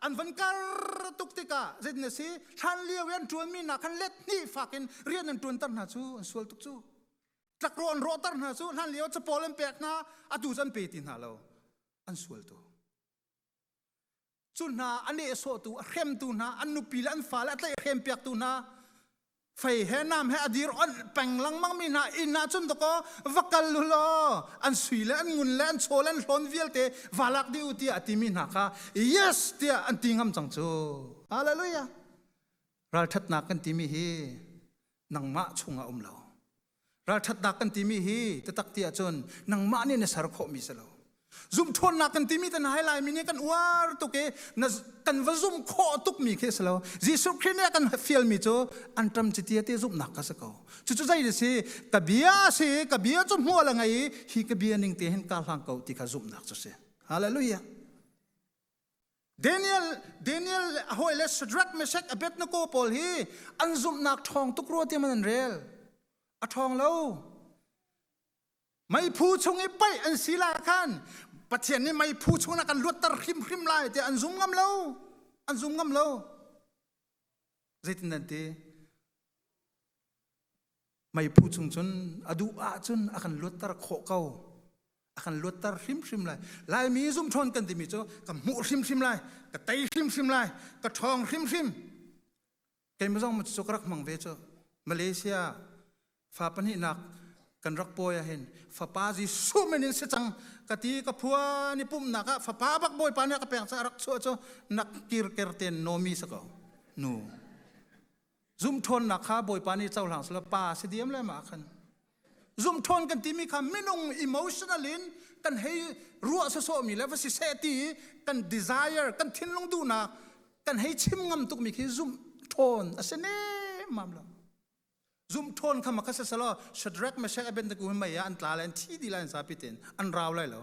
an van kar tuk tikah zeitin a si hlan lio i an ṭuanmi hna khan let hnih fak in rian an ṭuanter hna cu an sual tuk cu tlakro an rawhter hna cu hlan lio capawl an pek hna atu cu an pe ti hna lo an sual tu cu hna a nehsawhtu a hremtu hna an nupi le an fa le a tlaih hrem piaktu hna fei he nam he a dir on peng lengmang mi hna inn ah cun dakaw va kal lu law an sui le an ngun le an chaw le an hlon vialte va lak di u tiah a ti mi hna kha yes tiah an ti ngam cang cu hallelujah ralthatnak kan ti mi hi nangmah chung a um lo Ralṭhatnak kan timi hi tatak ti ahcun nangmah nih na ser khawhmi si lo. Zumhṭhawnnak kan timi tan hai laimi nih kan uar tuk i na, kan va zumh khawh tukmi khi si lo. Jesuh Khrih nih a kan fialmi cu anṭam citi te zumhnak ka si ko. Cucu zei na si? Ka bia si i ka bia cu hmual a ngei i hi ka bia ning te hin kaa hlang ko ti kha zumhnak cu si. Hallelujah. Daniel Daniel le a hawile Shadrach Meshach Abednego pawl hi an zumhnak ṭhawng tuk rua tiam an rel a ṭhawng lo meiphu chung i paih an si la khan Pathian nih meiphu chung ah kan luatter hrimhrim lai tiah an zum ngam lo an zum ngam lo zeitin nan ti meiphu chung cun a duh ahcun a kan luatter khawh ko a kan luatter hrimhrim lai laimi zumhrawn kan timi cu ka hmuh hrimhrim lai ka tei hrimhrim lai ka ṭhawng hrimhrim keimah zong cu ka rak mang ve cu malaysia fa pahnihnak kan rak pawi ahin fapa jesuh min in si cang ka ti ka phua ni pumhnak ah fapa bak bawipa nih ka peng ca rak chuah cu nak kirker ten nomi sa ko nu zumthawnnak kha bawipa nih cohlang selaw pa si diam lema khan zumthawn kan timi kha minung emotional in kan hei ruah sosawh mi le va si se ti kan desire kan thinlung duhnak kan hei chim ngam tuk mi khi zumthawn a si ne mam lo zumthawn kha maka se selo Shadrach Meshach Abednego mai an tla le an thi di la an sapi ten an raw lai lo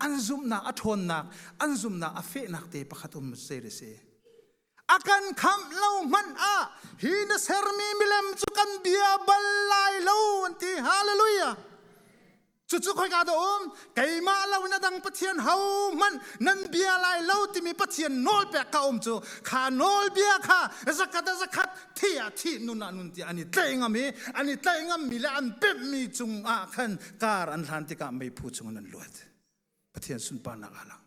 an zumhnak a ṭhawnnak an zumhnak a fehnak te pakhat um se da si a kan khamh lo hmanh ah hi na sermi milem cu kan bia bal lai lo an ti hallelujah cucu khoi ka da um keimah lo in adang pathian ho hmanh nan bia lai lo timi pathian nawl pek ka um cu kha nawl bia kha zakat zakat thi a thi nun a nun ti ani tlei ngam i ani tlei ngam mi le an pemh mi cung ah khan kar an hlan tikah meiphu chungin an luat pathian sunparnak ah lang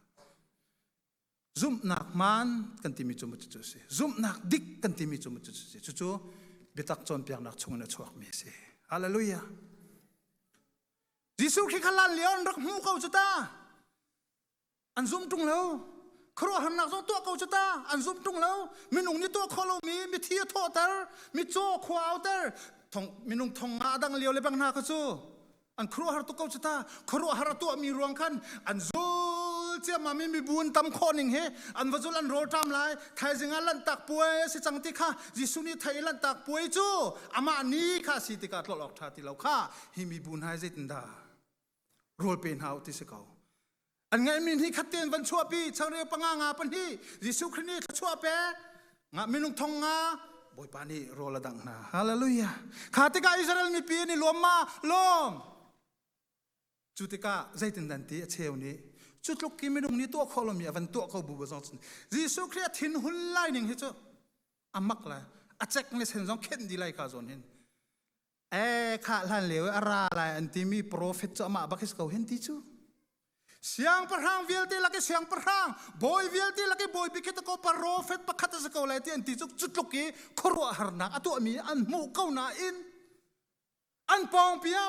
zumhnak man kan timi cu cu si zumhnak dik kan timi cu cu si cucu biatak cawnpiaknak chungin a chuakmi si hallelujah Jesuh khi khalan leon rak hmu ko cu ta an zum ṭung lo khuaruah harnak zong tuah ko cu ta an zum ṭung lo minung nih tuah kho lomi mithi a thawhter mitcaw khua auter thong minung thong nga dang lio le bang hna kha cu an khuaruahhar tuk ko cu ta khuaruahhar a tuahmi ruang khan an zul ciammam i mibun tam khawh ning he an va zul an rawl ṭam lai thaizing ah lanhtak puai a si cang ti kha Jesuh nih thei lanhtak puai cu amah ni kha si tikah tlolh awk ṭha ti lo kha hi mibun hai zeitindah rawl pe hna u ti si ko an ngaihmi ni khat ten van chuahpi changreu panga nga pahnih jesuh khrist nih thluachuah pe nga minung thong nga bawipa nih rawl a dang hna hallelujah kha tikah israel mipi nih lawm ma lawm cu tikah zeitin dan ti a cheu nih cu tluk ki minung nih tuah khawh lomi a van tuah ko bu ba zong cun jesuh khrist thin hun lai ning hi cu amak la a cek le sen zong khenh di lai ka zawn hin e kha hlan leu a ra lai an ti mi profet chu amah bak is ko hen ti chu siang pahrang vialte laki siang pahrang bawi vialte laki bawi bikhet ko profet pakhat a ko lai ti an ti chu chu tluk i khuaruah harnak a tuah mi an hmu ko na in an pawng pia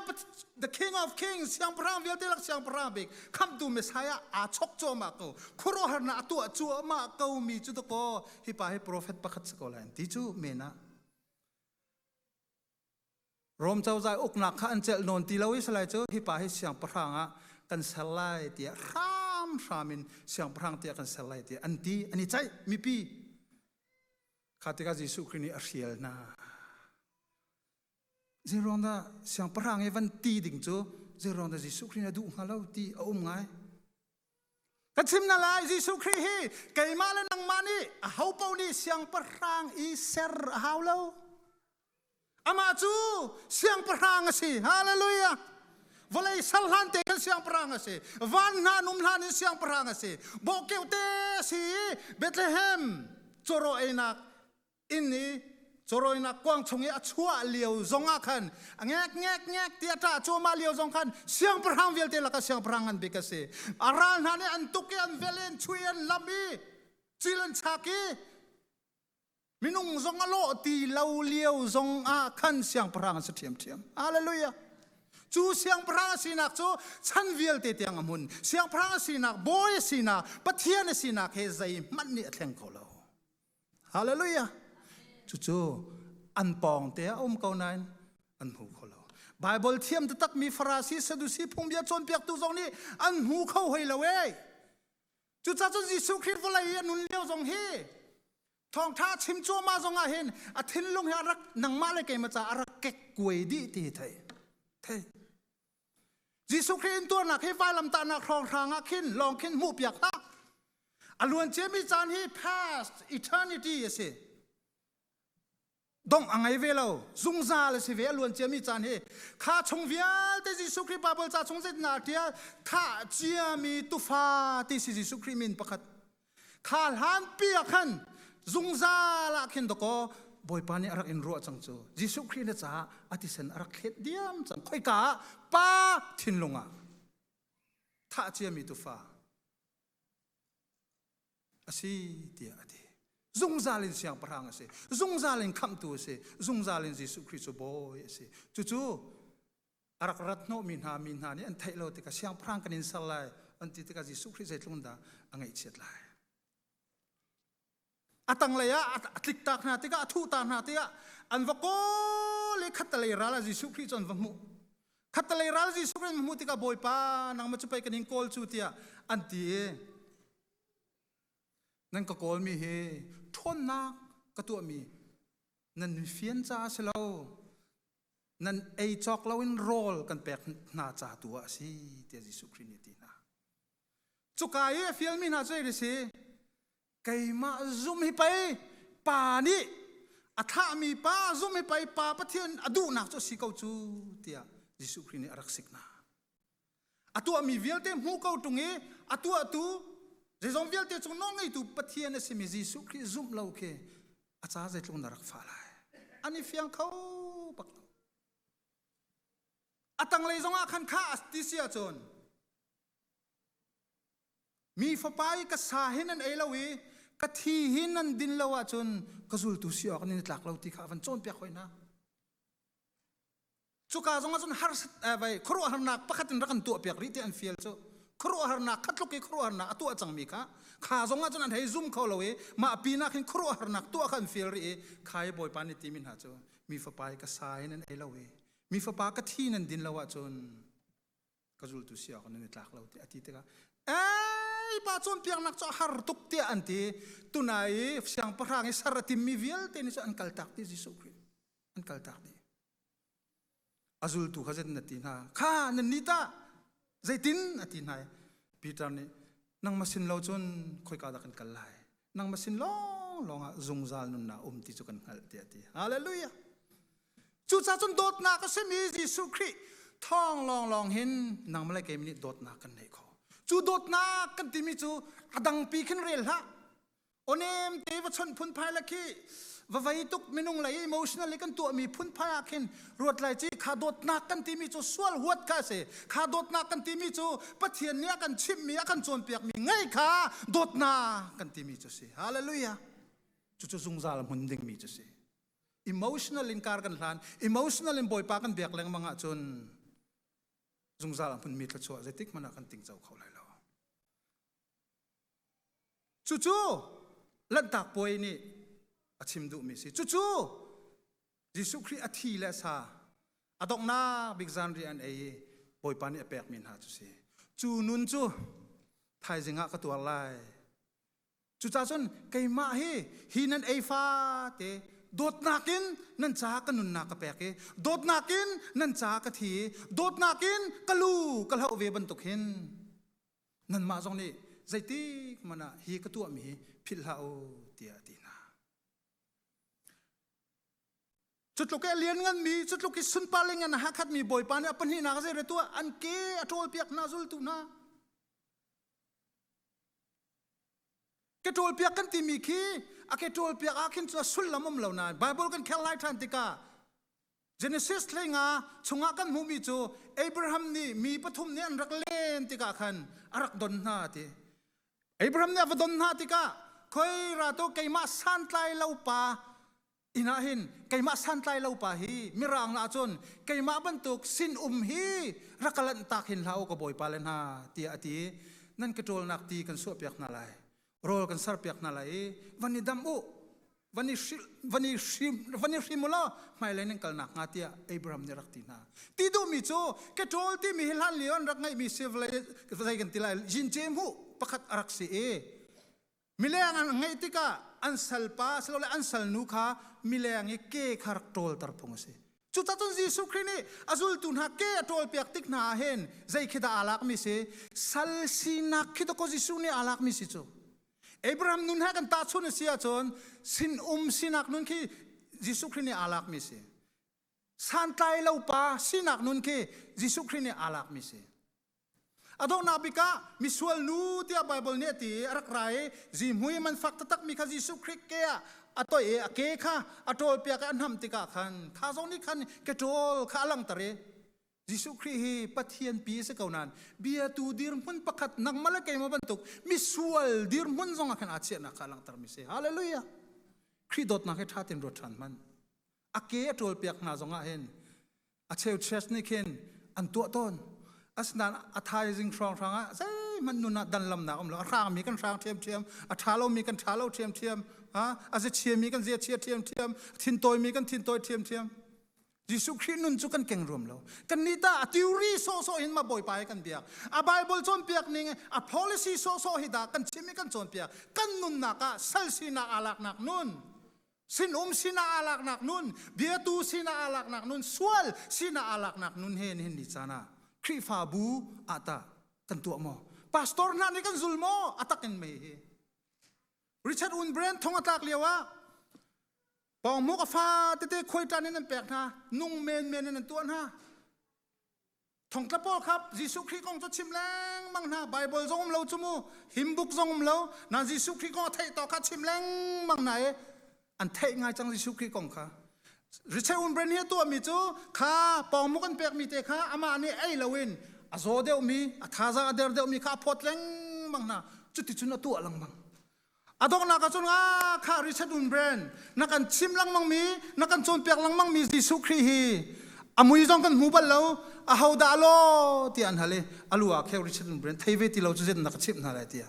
the king of kings siang pahrang vialte lak siang pahrang bik khamtu messiah a chok cho ma ko khuro har na atu chu ma ko mi chu to ko hi pa hi prophet pakhat se ko lai ti chu mena Rom cozah uknak kha an celh nawn ti lo i salai cu hi pa hi siangpahrang ah kan ser lai tiah hram hram in siangpahrang tiah kan ser lai tiah an ti an i ceih mipi kha tikah Jesuh Khrih nih a hrial hna zeiruang dah siangpahrang i van ti ding cu zeiruang dah Jesuh Khrih nih a duh hnga lo ti a um ngai Ka chim na lai Jesuh Khrih hi keimah le nangmah nih aho paoh nih siangpahrang i ser a hau lo. Amah cu siangpahrang a si. Hallelujah. Vawlei sal hlan te khan siangpahrang a si. Van hna num hlan in siangpahrang a si. Bawkeu te si i Bethlehem cawraw einak inn i cawrawinak kuang chung i a chuah lio zong ah khan a ngek ngek ngek ti a ṭah cuahmah lio zong khan siangpahrang vialte laka siangpahrang ngan bik a si a ral hna nih an tuk i an vel i an chuih i an lam i cil an chak i minung zong a lawh ti lo lio zong ah khan siangpahrang an si ṭhiamṭhiam hallelujah cu siangpahrang a sinak cu chan vialte tiang a hmun siangpahrang a sinak bawi a sinak pathian a sinak he zeihmanh nih a thleng kho lo Hallelujah. Cucu an pawng te a um ko nain an hmu kho lo. Bible thiam te tak mi Farasi Sadusi phungbia cawnpiak tu zong nih an hmu kho hoi lo e. Cucacun Jesuh Christ vawlei i a nun lio zong hi thawngtha chim cuama zong ah hin a thinlung hi a rak nangma le keima ca a rak kek kuai dih ti thei. Thei. Jesuh Khrih intuarnak hi vailamtahnak hrawnghrang ah khin lawng khin hmuhpiak hlah. A luan ciami caan hi past eternity a si. Dongh a ngei ve lo. Zungzal a si ve a luan ciami caan hi. Kha chung vialte Jesuh Khrih Bible ca chung zet na tial thah ciami tufa ti si Jesuh Khrih min pakhat. kha hlanpi ah khan zungzal ah khin dakaw bawipa nih a rak in ruah cang cu Jesuh Khrih na caah a tisen a rak thlet diam cang khoika ah pa thinlung ah thah ciami tufa asi tiah a ti zungzal in siangpahrang a si zungzal in khamhtu a si zungzal in Jesuh Khrih cu bawi a si cucu a rak rat hnawhmi hna mi hna nih an theih lo tikah siangpahrang kan in ser lai an ti tikah Jesuh Khrih zeitlung dah a ngaihchiat lai a tanglei ah a tlik tak hna tikah a thuh tak hna tikah an va kawl i khatalei ral ah Jesuh Khrih cu an va hmuh khatalei ral Jesuh Khrih an va hmuh tikah Bawipa nangmah cu pei kan in kawl cu tiah an ti nan ka kawlmi hi ṭhawnnak ka tuahmi nan fian caah si lo nan ei cawk loin rawl kan pek hna ca tu a si tiah Jesuh Khrih nih a ti hna cuka i a fialmi hna cu ei si keimah zumh hi pei pa nih a thlahmi pa zumh hi pei pa pathian a duhnak cu a si ko cu tiah Jesuh Khrih nih a rak sik hna a tuahmi vialte hmu ko ṭung i a tuahtu zeizong vialte cung nawl ngeitu Pathian a simi Jesuh Khrih zumh lo khi a ca zeitlung na rak fah lai an i fiang kho bak lo a tanglei zongah khan kha ti si ahcun mi fapa i ka sa hi nan ei lo i ka thi hi nan din lo ahcun ka zultu si awk nan i tlak lo ti kha a van cawnpiak hoi hna cuka zongah cun harsat khuaruahharnak pakhat in rak an tuah piak rih ti an fial cu khuaruahharnak kha tluk i khuaruahharnak a tuah cangmi kha kha zongah cun an hei zum kho lo i mah pinak hin khuaruahharnak tuah kha an fial rih i kha i bawipa nih timi hna cu mi fapa i ka sa in an ei lo i mi fapa ka thi nan din lo ahcun ka zultu si awk nan i tlak lo ti a ti tikah ei pa cawn piaknak cu a har tuk tiah an ti tunai i siangpahrang i ser a timmi vialte ni cu an kaltak ti Jesuh Khrih an kaltak dih a zultu kha zet na ti hna kha nan ni ta zeitin a ti hna Peter nih nang masin lo cun khoika dah kan kal lai nang masin long long ah zungzal nun na um ti cu kan hngalh tiah ti hallelujah cuca cun dawtnak a simi Jesuh Khrih thong long long hin nang malai kei nih dawtnak kan nei kho cu dawtnak kan timi cu a dangpi khin rel hlah onem te va chon phun phai la khi va vei tuk minung lei emotional kan tuah mi phun phai ah khin ruat lai chi kha dawt nak kan ti mi cu sual huat ka se kha dawt nak kan ti mi cu pathian nih a kan chimh mi a kan cawn piak mi ngei kha dawt na kan ti mi cu si hallelujah cu cu zungzal mun ding mi cu si emotional in kar kan hlan emotional in bawipa kan biak lengmang ah cun zungzal hmun mi thluachuah zeitik mana kan ting cho kho lai lo Cucu Lanhtak Puai nih a chim duhmi si. Cucu Jesuh Khrih a thi le sa a donghnak bik zanri an ei i Bawipa nih a pekmi hna cu si. Cu nun cu thaizing ah ka tuar lai. Cucacun keimah hi hi nan ei fate dawtnak in nan caah ka nunnak ka pek i dawtnak in nan caah ka thi i dawtnak in ka lu ka hloh ve bantuk hin nanmah zong nih zeitik hmanh ah hi ka tuahmi hi philh hlah u tiah a ti hna. Cutluk i liannganmi, cutluk i sunpar le ngan hakhatmi Bawipa nih a pahnihnak a zeire tuah an ke a ṭawlpiak hna zultu hna. Ke ṭawlpiak kan timi khi a ke ṭawlpiak ah khin cu a sullam um lo nain Bible kan kher lai ṭhan tikah Genesis lenga chungah kan hmuhmi cu Abraham nih mi pathum nih an rak len tikah khan a rak don hna ti. Abraham nih a va don hna tikah khoi ra tu keimah santlai lo pa inn ah hin keimah santlai lo pa hi mirang la cun keimah bantuk sinum hi rak ka lanhtak hin hlah u ka bawipa le hna tiah a ti nan ka ṭawlnak ti kan suahpiak hna lai rawl kan serpiak hna lai i van i dam u van i van i hrim van i hrim u law hmailei nan kalnak hnga tiah Abraham nih rak ti hna ti duhmi cu keṭawl timi hi hlan lio an rak ngeihmi si vei kan ti lai jince mu pakhat a rak si i mileng an ngeih tikah an salpa silole an salnu kha mileng i ke kha rak ṭawlter phung a si Cucacun Jesuh Khrih nih a zultu hna ke a ṭawlpiak tik hna ah hin zei khi dah aa lakmi si sal sinak khi dawkaw Jesuh nih aa lakmi si cu Abraham nun he kan tahchun a si ahcun sinum sinak nun khi Jesuh Khrih nih aa lakmi si santlai lo pa sinak nun khi Jesuh Khrih nih aa lakmi si A donghnak bik ah misual nu tiah Bible nih a ti i a rak ra i zihmui man fak taktak mi kha Jesuh Khrih ke ah a toih i a ke kha a ṭawlpiak i a hnamh tikah khan tha zong nih khan keṭawl kha a langhter i Jesuh Khrih hi Pathian pi a si ko nain biatu dirhmun pakhat nangmah le keimah bantuk misual dirhmun zong ah khan aa chiahnak kha a langhter mi si hallelujah Khrih dawtnak hi ṭha tein ruat ṭhan hman a ke a ṭawlpiak hna zong ah hin a cheu church nih khin an tuah tawn asinain a thaizing hrawnghrang ah zeihmanh nun ah dan lamnak um lo a hrangmi kan hrang ṭhiamṭhiam a ṭha lomi kan ṭha lo ṭhiamṭhiam a zichiami kan ziachia ṭhiamṭhiam thintawimi kan thintawai ṭhiamṭhiam Jesuh Khrih nun cu kan keng ruam lo kannih ta a theory sawhsawh in ma bawipa hi kan biak a Bible cawnpiak ning a policy sawhsawh hi dah kan chim i kan cawnpiak kan nunnak ah sal sinak aa laknak nun sinum sinah aa laknak nun biatu sinah aa laknak nun sual sinah aa laknak nun he nihin ni caan ah Khrihfabu ata kan tuah maw pastor hna nih kan zul maw atak in mei hi Richard Unbrand thong atlak lio ah pawngmuk a fa tete khuaitan in an pek hna nung men men in an tuah hna thongtla pawl khap jesuh khrih kong cu chim lengmang hna bible zong um lo cu mu himbuk zong um lo nan jesuh khrih kong a theih to kha chim lengmang na e an theih ngai cang jesuh khrih kong kha richard unbren hi tu mi cu kha pawngmuk an pek mi te kha ama nih ei loin a zo deuh mi a thaza a der deuh mi kha a phawt lengmang na cuti cun a tu a lang bang adonghnak ahcun nga kha reset un bren na kan chim lengmang mi na kan cawnpiak lengmang mi Jesuh Khrih hi amui zong kan hmu bal lo aho dah lo ti an hal i alu ah kheu reset un bren thei ve ti lo cu zet na ka chimh hna lai tia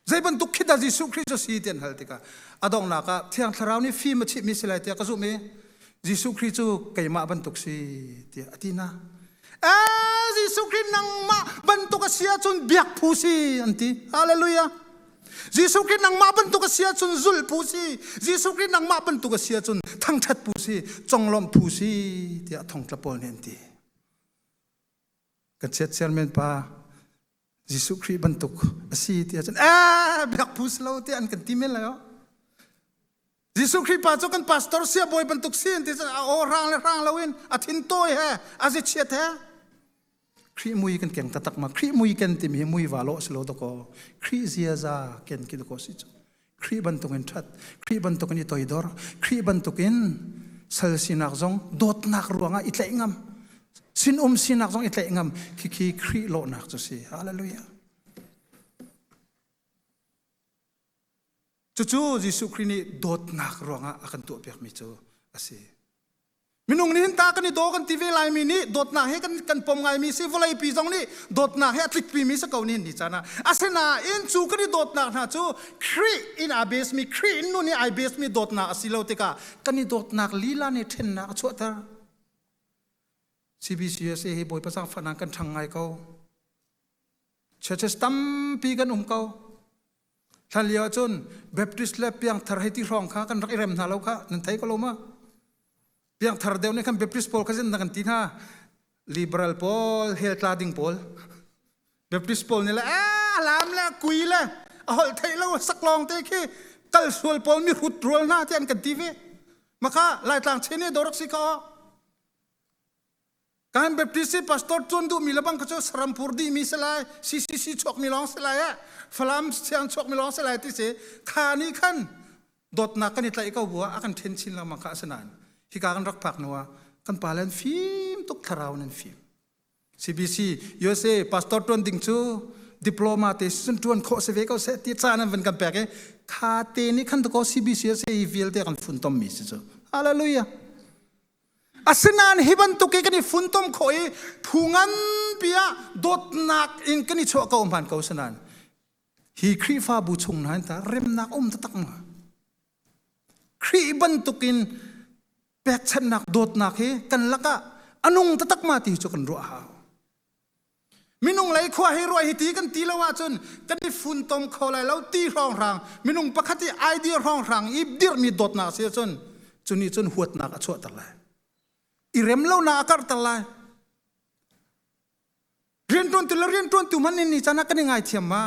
zei bantuk khi da Jesuh Khrih cu si ti an hal tikah adonghnak ah thiang thlarau nih fim a chih mi si lai tia ka zumh i Jesuh Khrih cu keimah bantuk si tiah a ti na eh Jesuh Khrih nangmah bantuk a si ahcun biak phu si an ti hallelujah Jesuh Khrih nangmah bantuk a si ahcun zulh phu si Jesuh Khrih nangmah bantuk a si ahcun thangṭhat phu si conglawmh phu si tiah thongtla pawl nih an ti ka chiatser men pa Jesuh Khrih bantuk a si ti ahcun ee biak phus lo ti an kan ti men lo Jesuh Khrih pa cu kan pastor sia bawi bantuk si an ti a aw rang le rang lo in a thin tawi he a zi chiat he Khrih mui kan keng tatak ma Khrih mui ken timi hi mui va lo si lo dako Khrih ziaza ken ki dako si cu Khrih bantukin ṭhat, Khrih bantukin i toidor, Khrih bantukin sal sinak zong dawtnak ruangah i tlaih ngam, sinum sinak zong i tlaih ngam, khikhi Khrih lawhnak cu si. Hallelujah. Cucu Jesuh Khrih nih dawtnak ruangah a kan tuahpiakmi cu a si. Minung nih hin ta kan i daw kan ti ve laimi nih dawtnak he kan kan pom ngaimi si vawlei pi zong nih dawtnak he a tlikpi mi si ko ni ni caan ah asinain cu kan i dawtnak hna cu Khrih in aa base mi Khrih in nun i ai base mi dawtnak a si lo tikah kan i dawtnak lila nih ṭhennak a chuahter CBCSA hi bawi pasang fanang kan ṭhang ngai ko churches tampi kan um ko thlan lio cun baptist le piangthar hei ti hrawng kha kan rak i rem hna lo kha nan thei ko lo ma piangthar deu nih khan baptist pawl kha zin kan ti hna liberal pawl hel tla ding pawl baptist pawl nih le a lam le kui le a holh theih lo saklong te khi kal sual pawl mi hrut rual hna ti an kan ti ve maka laitlang chin hi dorak si ka kan baptist si pastor cun duhmi lebang kha cu sarampur dihmi si lai ccc chuakmi lawng si lai eh falam siang chuakmi lawng si lai ti si kha ni khan dawtnak kan i tlaih ko bua a kan then chin lengmang kha asinain hika kan rak phak nuwa kan pa len fim tuk thlarau nan fim CBC USA pastor tuan ding cu diploma te sun tuan kho se ve ko se ti cha nan van kan pek e kha te ni khan to ko CBC se i vial te kan fun tom mi si chu hallelujah Asinain hi bantuk i kan i funtom khawh i phu nganpi ah dawtnak in kan i chuah ko hman ko sinain hi Khrihfabu chung hna ta remnak um taktak ma? Khrih bantuk in pekchanhnak dawtnak hi kan lakah a nung taktak ma ti cu kan ruah hau. minung lei khua hi ruai hi ti kan ti lo ahcun kan i funtom kho lai lo ti hrawnghrang minung pakhat i idea hrawnghrang i dirhmi dawtnak si ahcun cuni cun huatnak a chuahter lai i rem lonak a karhter lai rianṭuantu le rianṭuantu hman in ni can ah kan i ngaithiam ma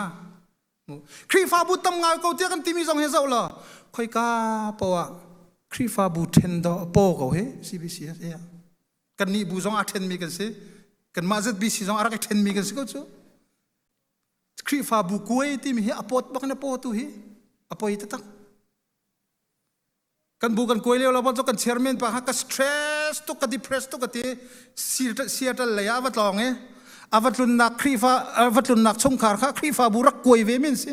Khrihfabu tam ngai ko tiah kan timi zong hi zoh law khoika poah Khrihfabu ṭhen do a paw ko hi CBC kan nih bu zong aa ṭhenmi kan si kanmah ZBC zong a rak i ṭhenmi kan si ko cu Khrihfabu kuai timi hi a pawt bak in a pawtu hi a poi ta tak kan bu kan kuai leo lo bon kan chairman pa ha ka stress tu ka depress tu ka ti siatal lei a va tlong e a va tlunnak khrifa va tlunnak chungkhar kha khrifa bu rak kuai ve min si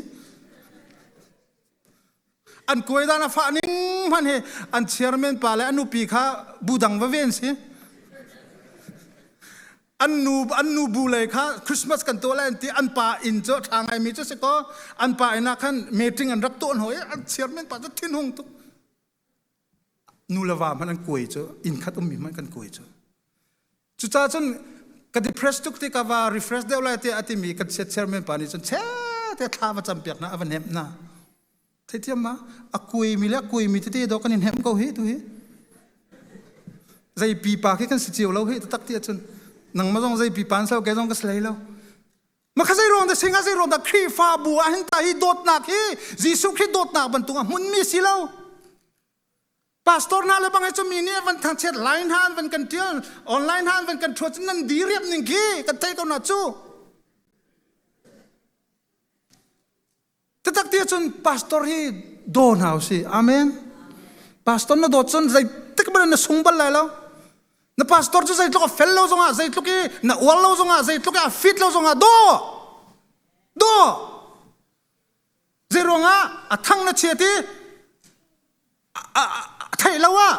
an kuaidan a fah ning hman hi an chairman pa le an nupi kha budang va ve an si an nu an nu bu lei kha christmas kan to lai an ti an pa inn cu tha ngai mi cu si ko an pa inn ah khan meeting an rak to ho i an chairman pa cu thin hung tuk nu le va hman an kuai cu inn khat um mi hman kan kuai cu Cucaah cun ka depressed tuk ti ka va refresh deuh lai tiah a timi kan siat chairman pa nih cun che te thla va cam piak na a va hnemh na theithiam ma a kuimi le a kuimi tete do kan in hnemh ko hi tu hi zei pipa khi kan si cio lo hi tatak ti cun nangma zong zei pipa an sau ke zong ka slei lo makha zei rong da singa zei rong da khrihfabu ah hin ta hi dawtnak hi Jesuh Khrih dawtnak bantuk ah hmunmi si lo pastor na le bang cu mi nih van thangchiat line han van kan tial online han van kan thuat nan di riap ning khi kan thei ko na cu tatak tia cun pastor hi do na si amen pastor na dawt cun zei tik ban na sung bal lai lo na pastor cu zei tluk a fel lo zongah zei tluk i na ual lo zongah zei tluk i a fit lo zongah do do Zeiruangah a thang na chiat i a theih lo ah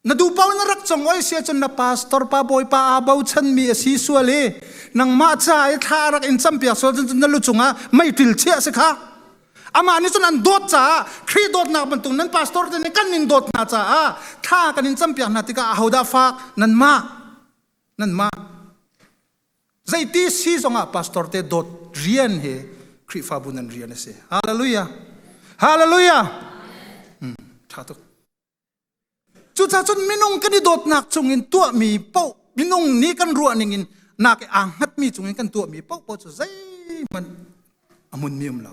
na duhpaoh in na rak cong oi si ahcun na pastor pa bawipa aa bochanmi a si sual i nangmah ca i thla a rak in campiak sual cun na lu cungah meiṭil chiah a si kha amah nih cun an dawt caah Khrih dawtnak bantuk nan pastor te nih kan in dawt hna caah thla kan in campiak hna tikah ahodah fak nanmah nanmah zeiti si zongah pastor te dawt rian he Khrihfabu nan rian a si hallelujah hallelujah hmm, ṭha tuk cucah cun minung kan i dawtnak chungin tuahmi paoh minung nih kan ruahning in nak i aa hngatmi chungin kan tuahmi paoh paoh cu zeihmanh a munmi um lo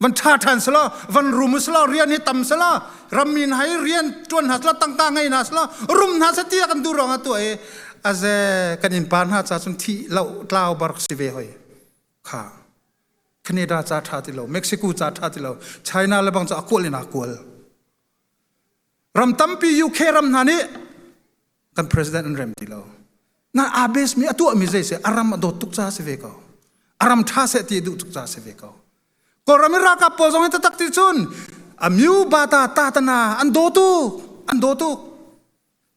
van tha than sala van rum sala rian hi tam sala ramin hai rian tuan ha sala tangka ngai na sala rum na sa tia kan du rong atu e aze kan in pan ha cha chung thi lo tlaw bark si ve hoi kha Canada cha tha ti lo Mexico cha tha ti lo China le bang cha akual na kual ram tampi UK ram hna nih kan president an rem ti lo na abes mi atu mi zei se aram adot tuk cha se ve ko aram tha se ti du tuk cha se ve ko koram raka pol zong ta tak ti chun amyu bata tatana an do tu an do tu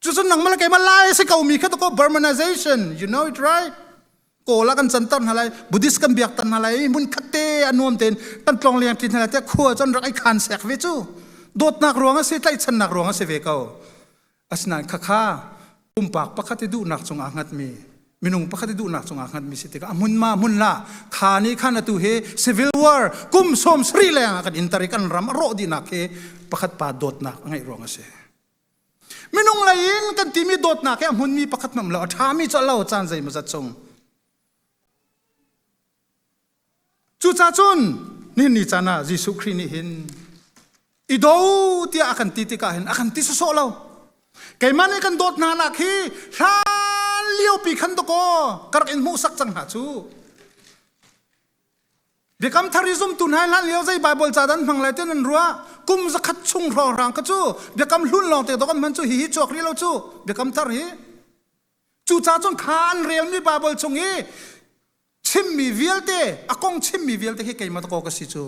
chu sun nang mala ke ma lai se ko mi kha to ko burmanization you know it right kola kan chantar na lai buddhist kan biak tan na lai mun khatte anuam ten kan tlong liang tlin na te khua chon rak ai khan sek ve chu dot nak ruang ase tlai chan nak ruang ase ve ko Asinain khakha pumpak pakhat i duhnak cungah hngatmi minung pakhat i duhnak cungah hngatmi si tikah a hmun ma hmun la kha ni khan atu hi civil war kum sawm sarih lengah kan intar i kan ram a rawh dihnak hi pakhat pa dawtnak a ngeih ruang a si minung lei in kan timi dawtnak hi a hmunmi pakhat nam lo a ṭhami cu a lo caan zei mazat chung Cucaah cun ninni caan ah Jesuh Khrih nih hin i do tiah a kan ti tikah hin a kan ti sawsawh lo. Keimah nih kan dawt hna nak hi hlan liopi khan dakaw ka rak in hmuhsak cang hna cu. Biakam thari zumtu hna hlan lio zei Bible ca dan hmang lai te nan ruah kum zakhat chung hrawrang ka cu biakam hlun lawng te dokan man cu hi hi chuak ri lo cu biakam thar hi cucaah cun kha an relmi Bible chung i chimmi vialte a kong chimmi vialte hi keimah dakaw ka si cu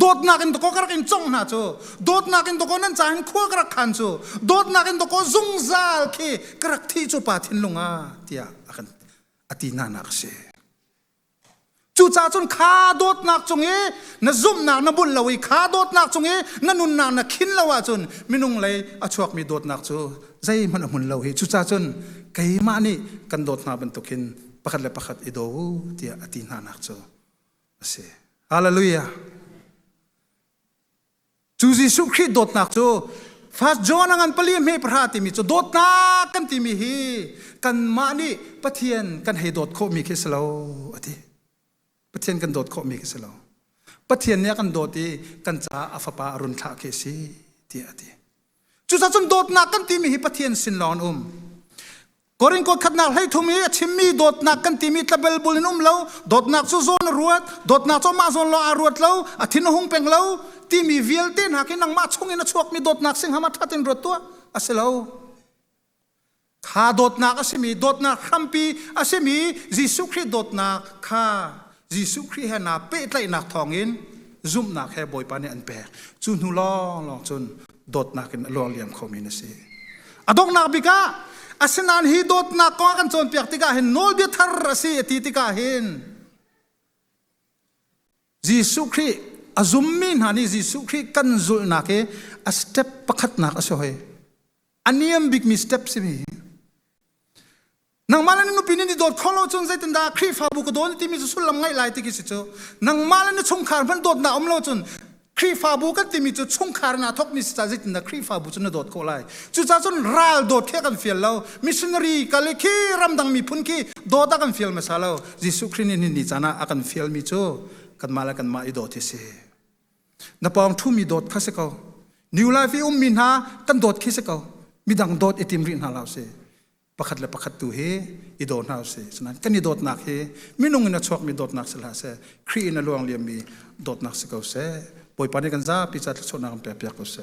dawtnak in dakaw ka rak in cong hna cu dawtnak in dakaw nan ca hin khua ka rak khan cu dawtnak in dakaw zungzal khi ka rak thi cu pa thinlung a tiah a kan a ti nana ka si cucaah cun kha dawtnak cung i na zumhnak na bul lo i kha dawtnak cung i na nunnak na khin lo ahcun minung lei a chuakmi dawtnak cu zeihmanh a hmun lo hi cucaah cun keimah nih kan dawt hna bantuk hin pakhat le pakhat i daw u tiah a ti hnanak cu a si. Hallelujah. Cu Jesuh Khrih dawtnak cu First John a ngan pali hme pahra timi cu dawtnak kan timi hi kanmah nih Pathian kan hei dawt khawhmi khi si lo a ti. Pathian kan dawt khawhmi khi si lo. Pathian nih a kan dawt i kan caah a fapa a run thlah khi a si tiah a ti. Cucaah cun dawtnak kan timi hi Pathian sin lawng an um. Korin kot khatnak hlei thum i a chimmi dawtnak kan timi tlabel bul in um lo. Dawtnak cu zawn a ruat, dawtnak cu mah zawn lo aa ruat lo, a thin a hung peng lo timi vialte hna khi nangmah chung in a chuakmi dawtnak sing hama that in ruat tuah a si lo. kha dawtnak a simi dawtnak hrampi a simi Jesuh Khrih dawtnak kha Jesuh Khrih he naa pehtlaihnak thawngin zumhnak he Bawipa nih an pek cu hnu lawnglawng cun dawtnak in a luar liam khomi na si a donghnak bik ah asinain hi dawtnak kong a kan cawnpiak tikah hin nawlbia thar a si a ti tikah hin Jesuh Khrih a zummi hna nih Jesuh Khrih kan zulhnak hi a step pakhatnak a si hoi a niam bikmi step si mi nangmah le nupi nin i dawt kho lo cun zeitin dah khrihfabu ka dawn timi cu sullam ngaih lai tiki si cu nangmah le chungkhar hmanh dawt na um lo cun khrihfabu kan timi cu chungkhar na thokmi si ca zeitin dah khrihfabu cu na dawt khawh lai cucaah cun ral dawt khi kan fial lo missionary kal i khi ramdang miphun khi dawt a kan fial hmasa lo jesuh khrih nih ni caan ah a kan fialmi cu kanmah le kanmah i dawt hi si na pawng ṭhumi dawt kha si ko new life i ummi hna kan dawt khi si ko midang dawt i tim rih hna hlah usih pakhat le pakhat tu hi i dawt hna usih sinain kan i dawtnak hi minung in a chuakmi dawtnak si hlah seh Khrih in a luang liammi dawtnak si ko seh Bawipa nih kan zapi ca thluachuahnak kan pekpiak ko seh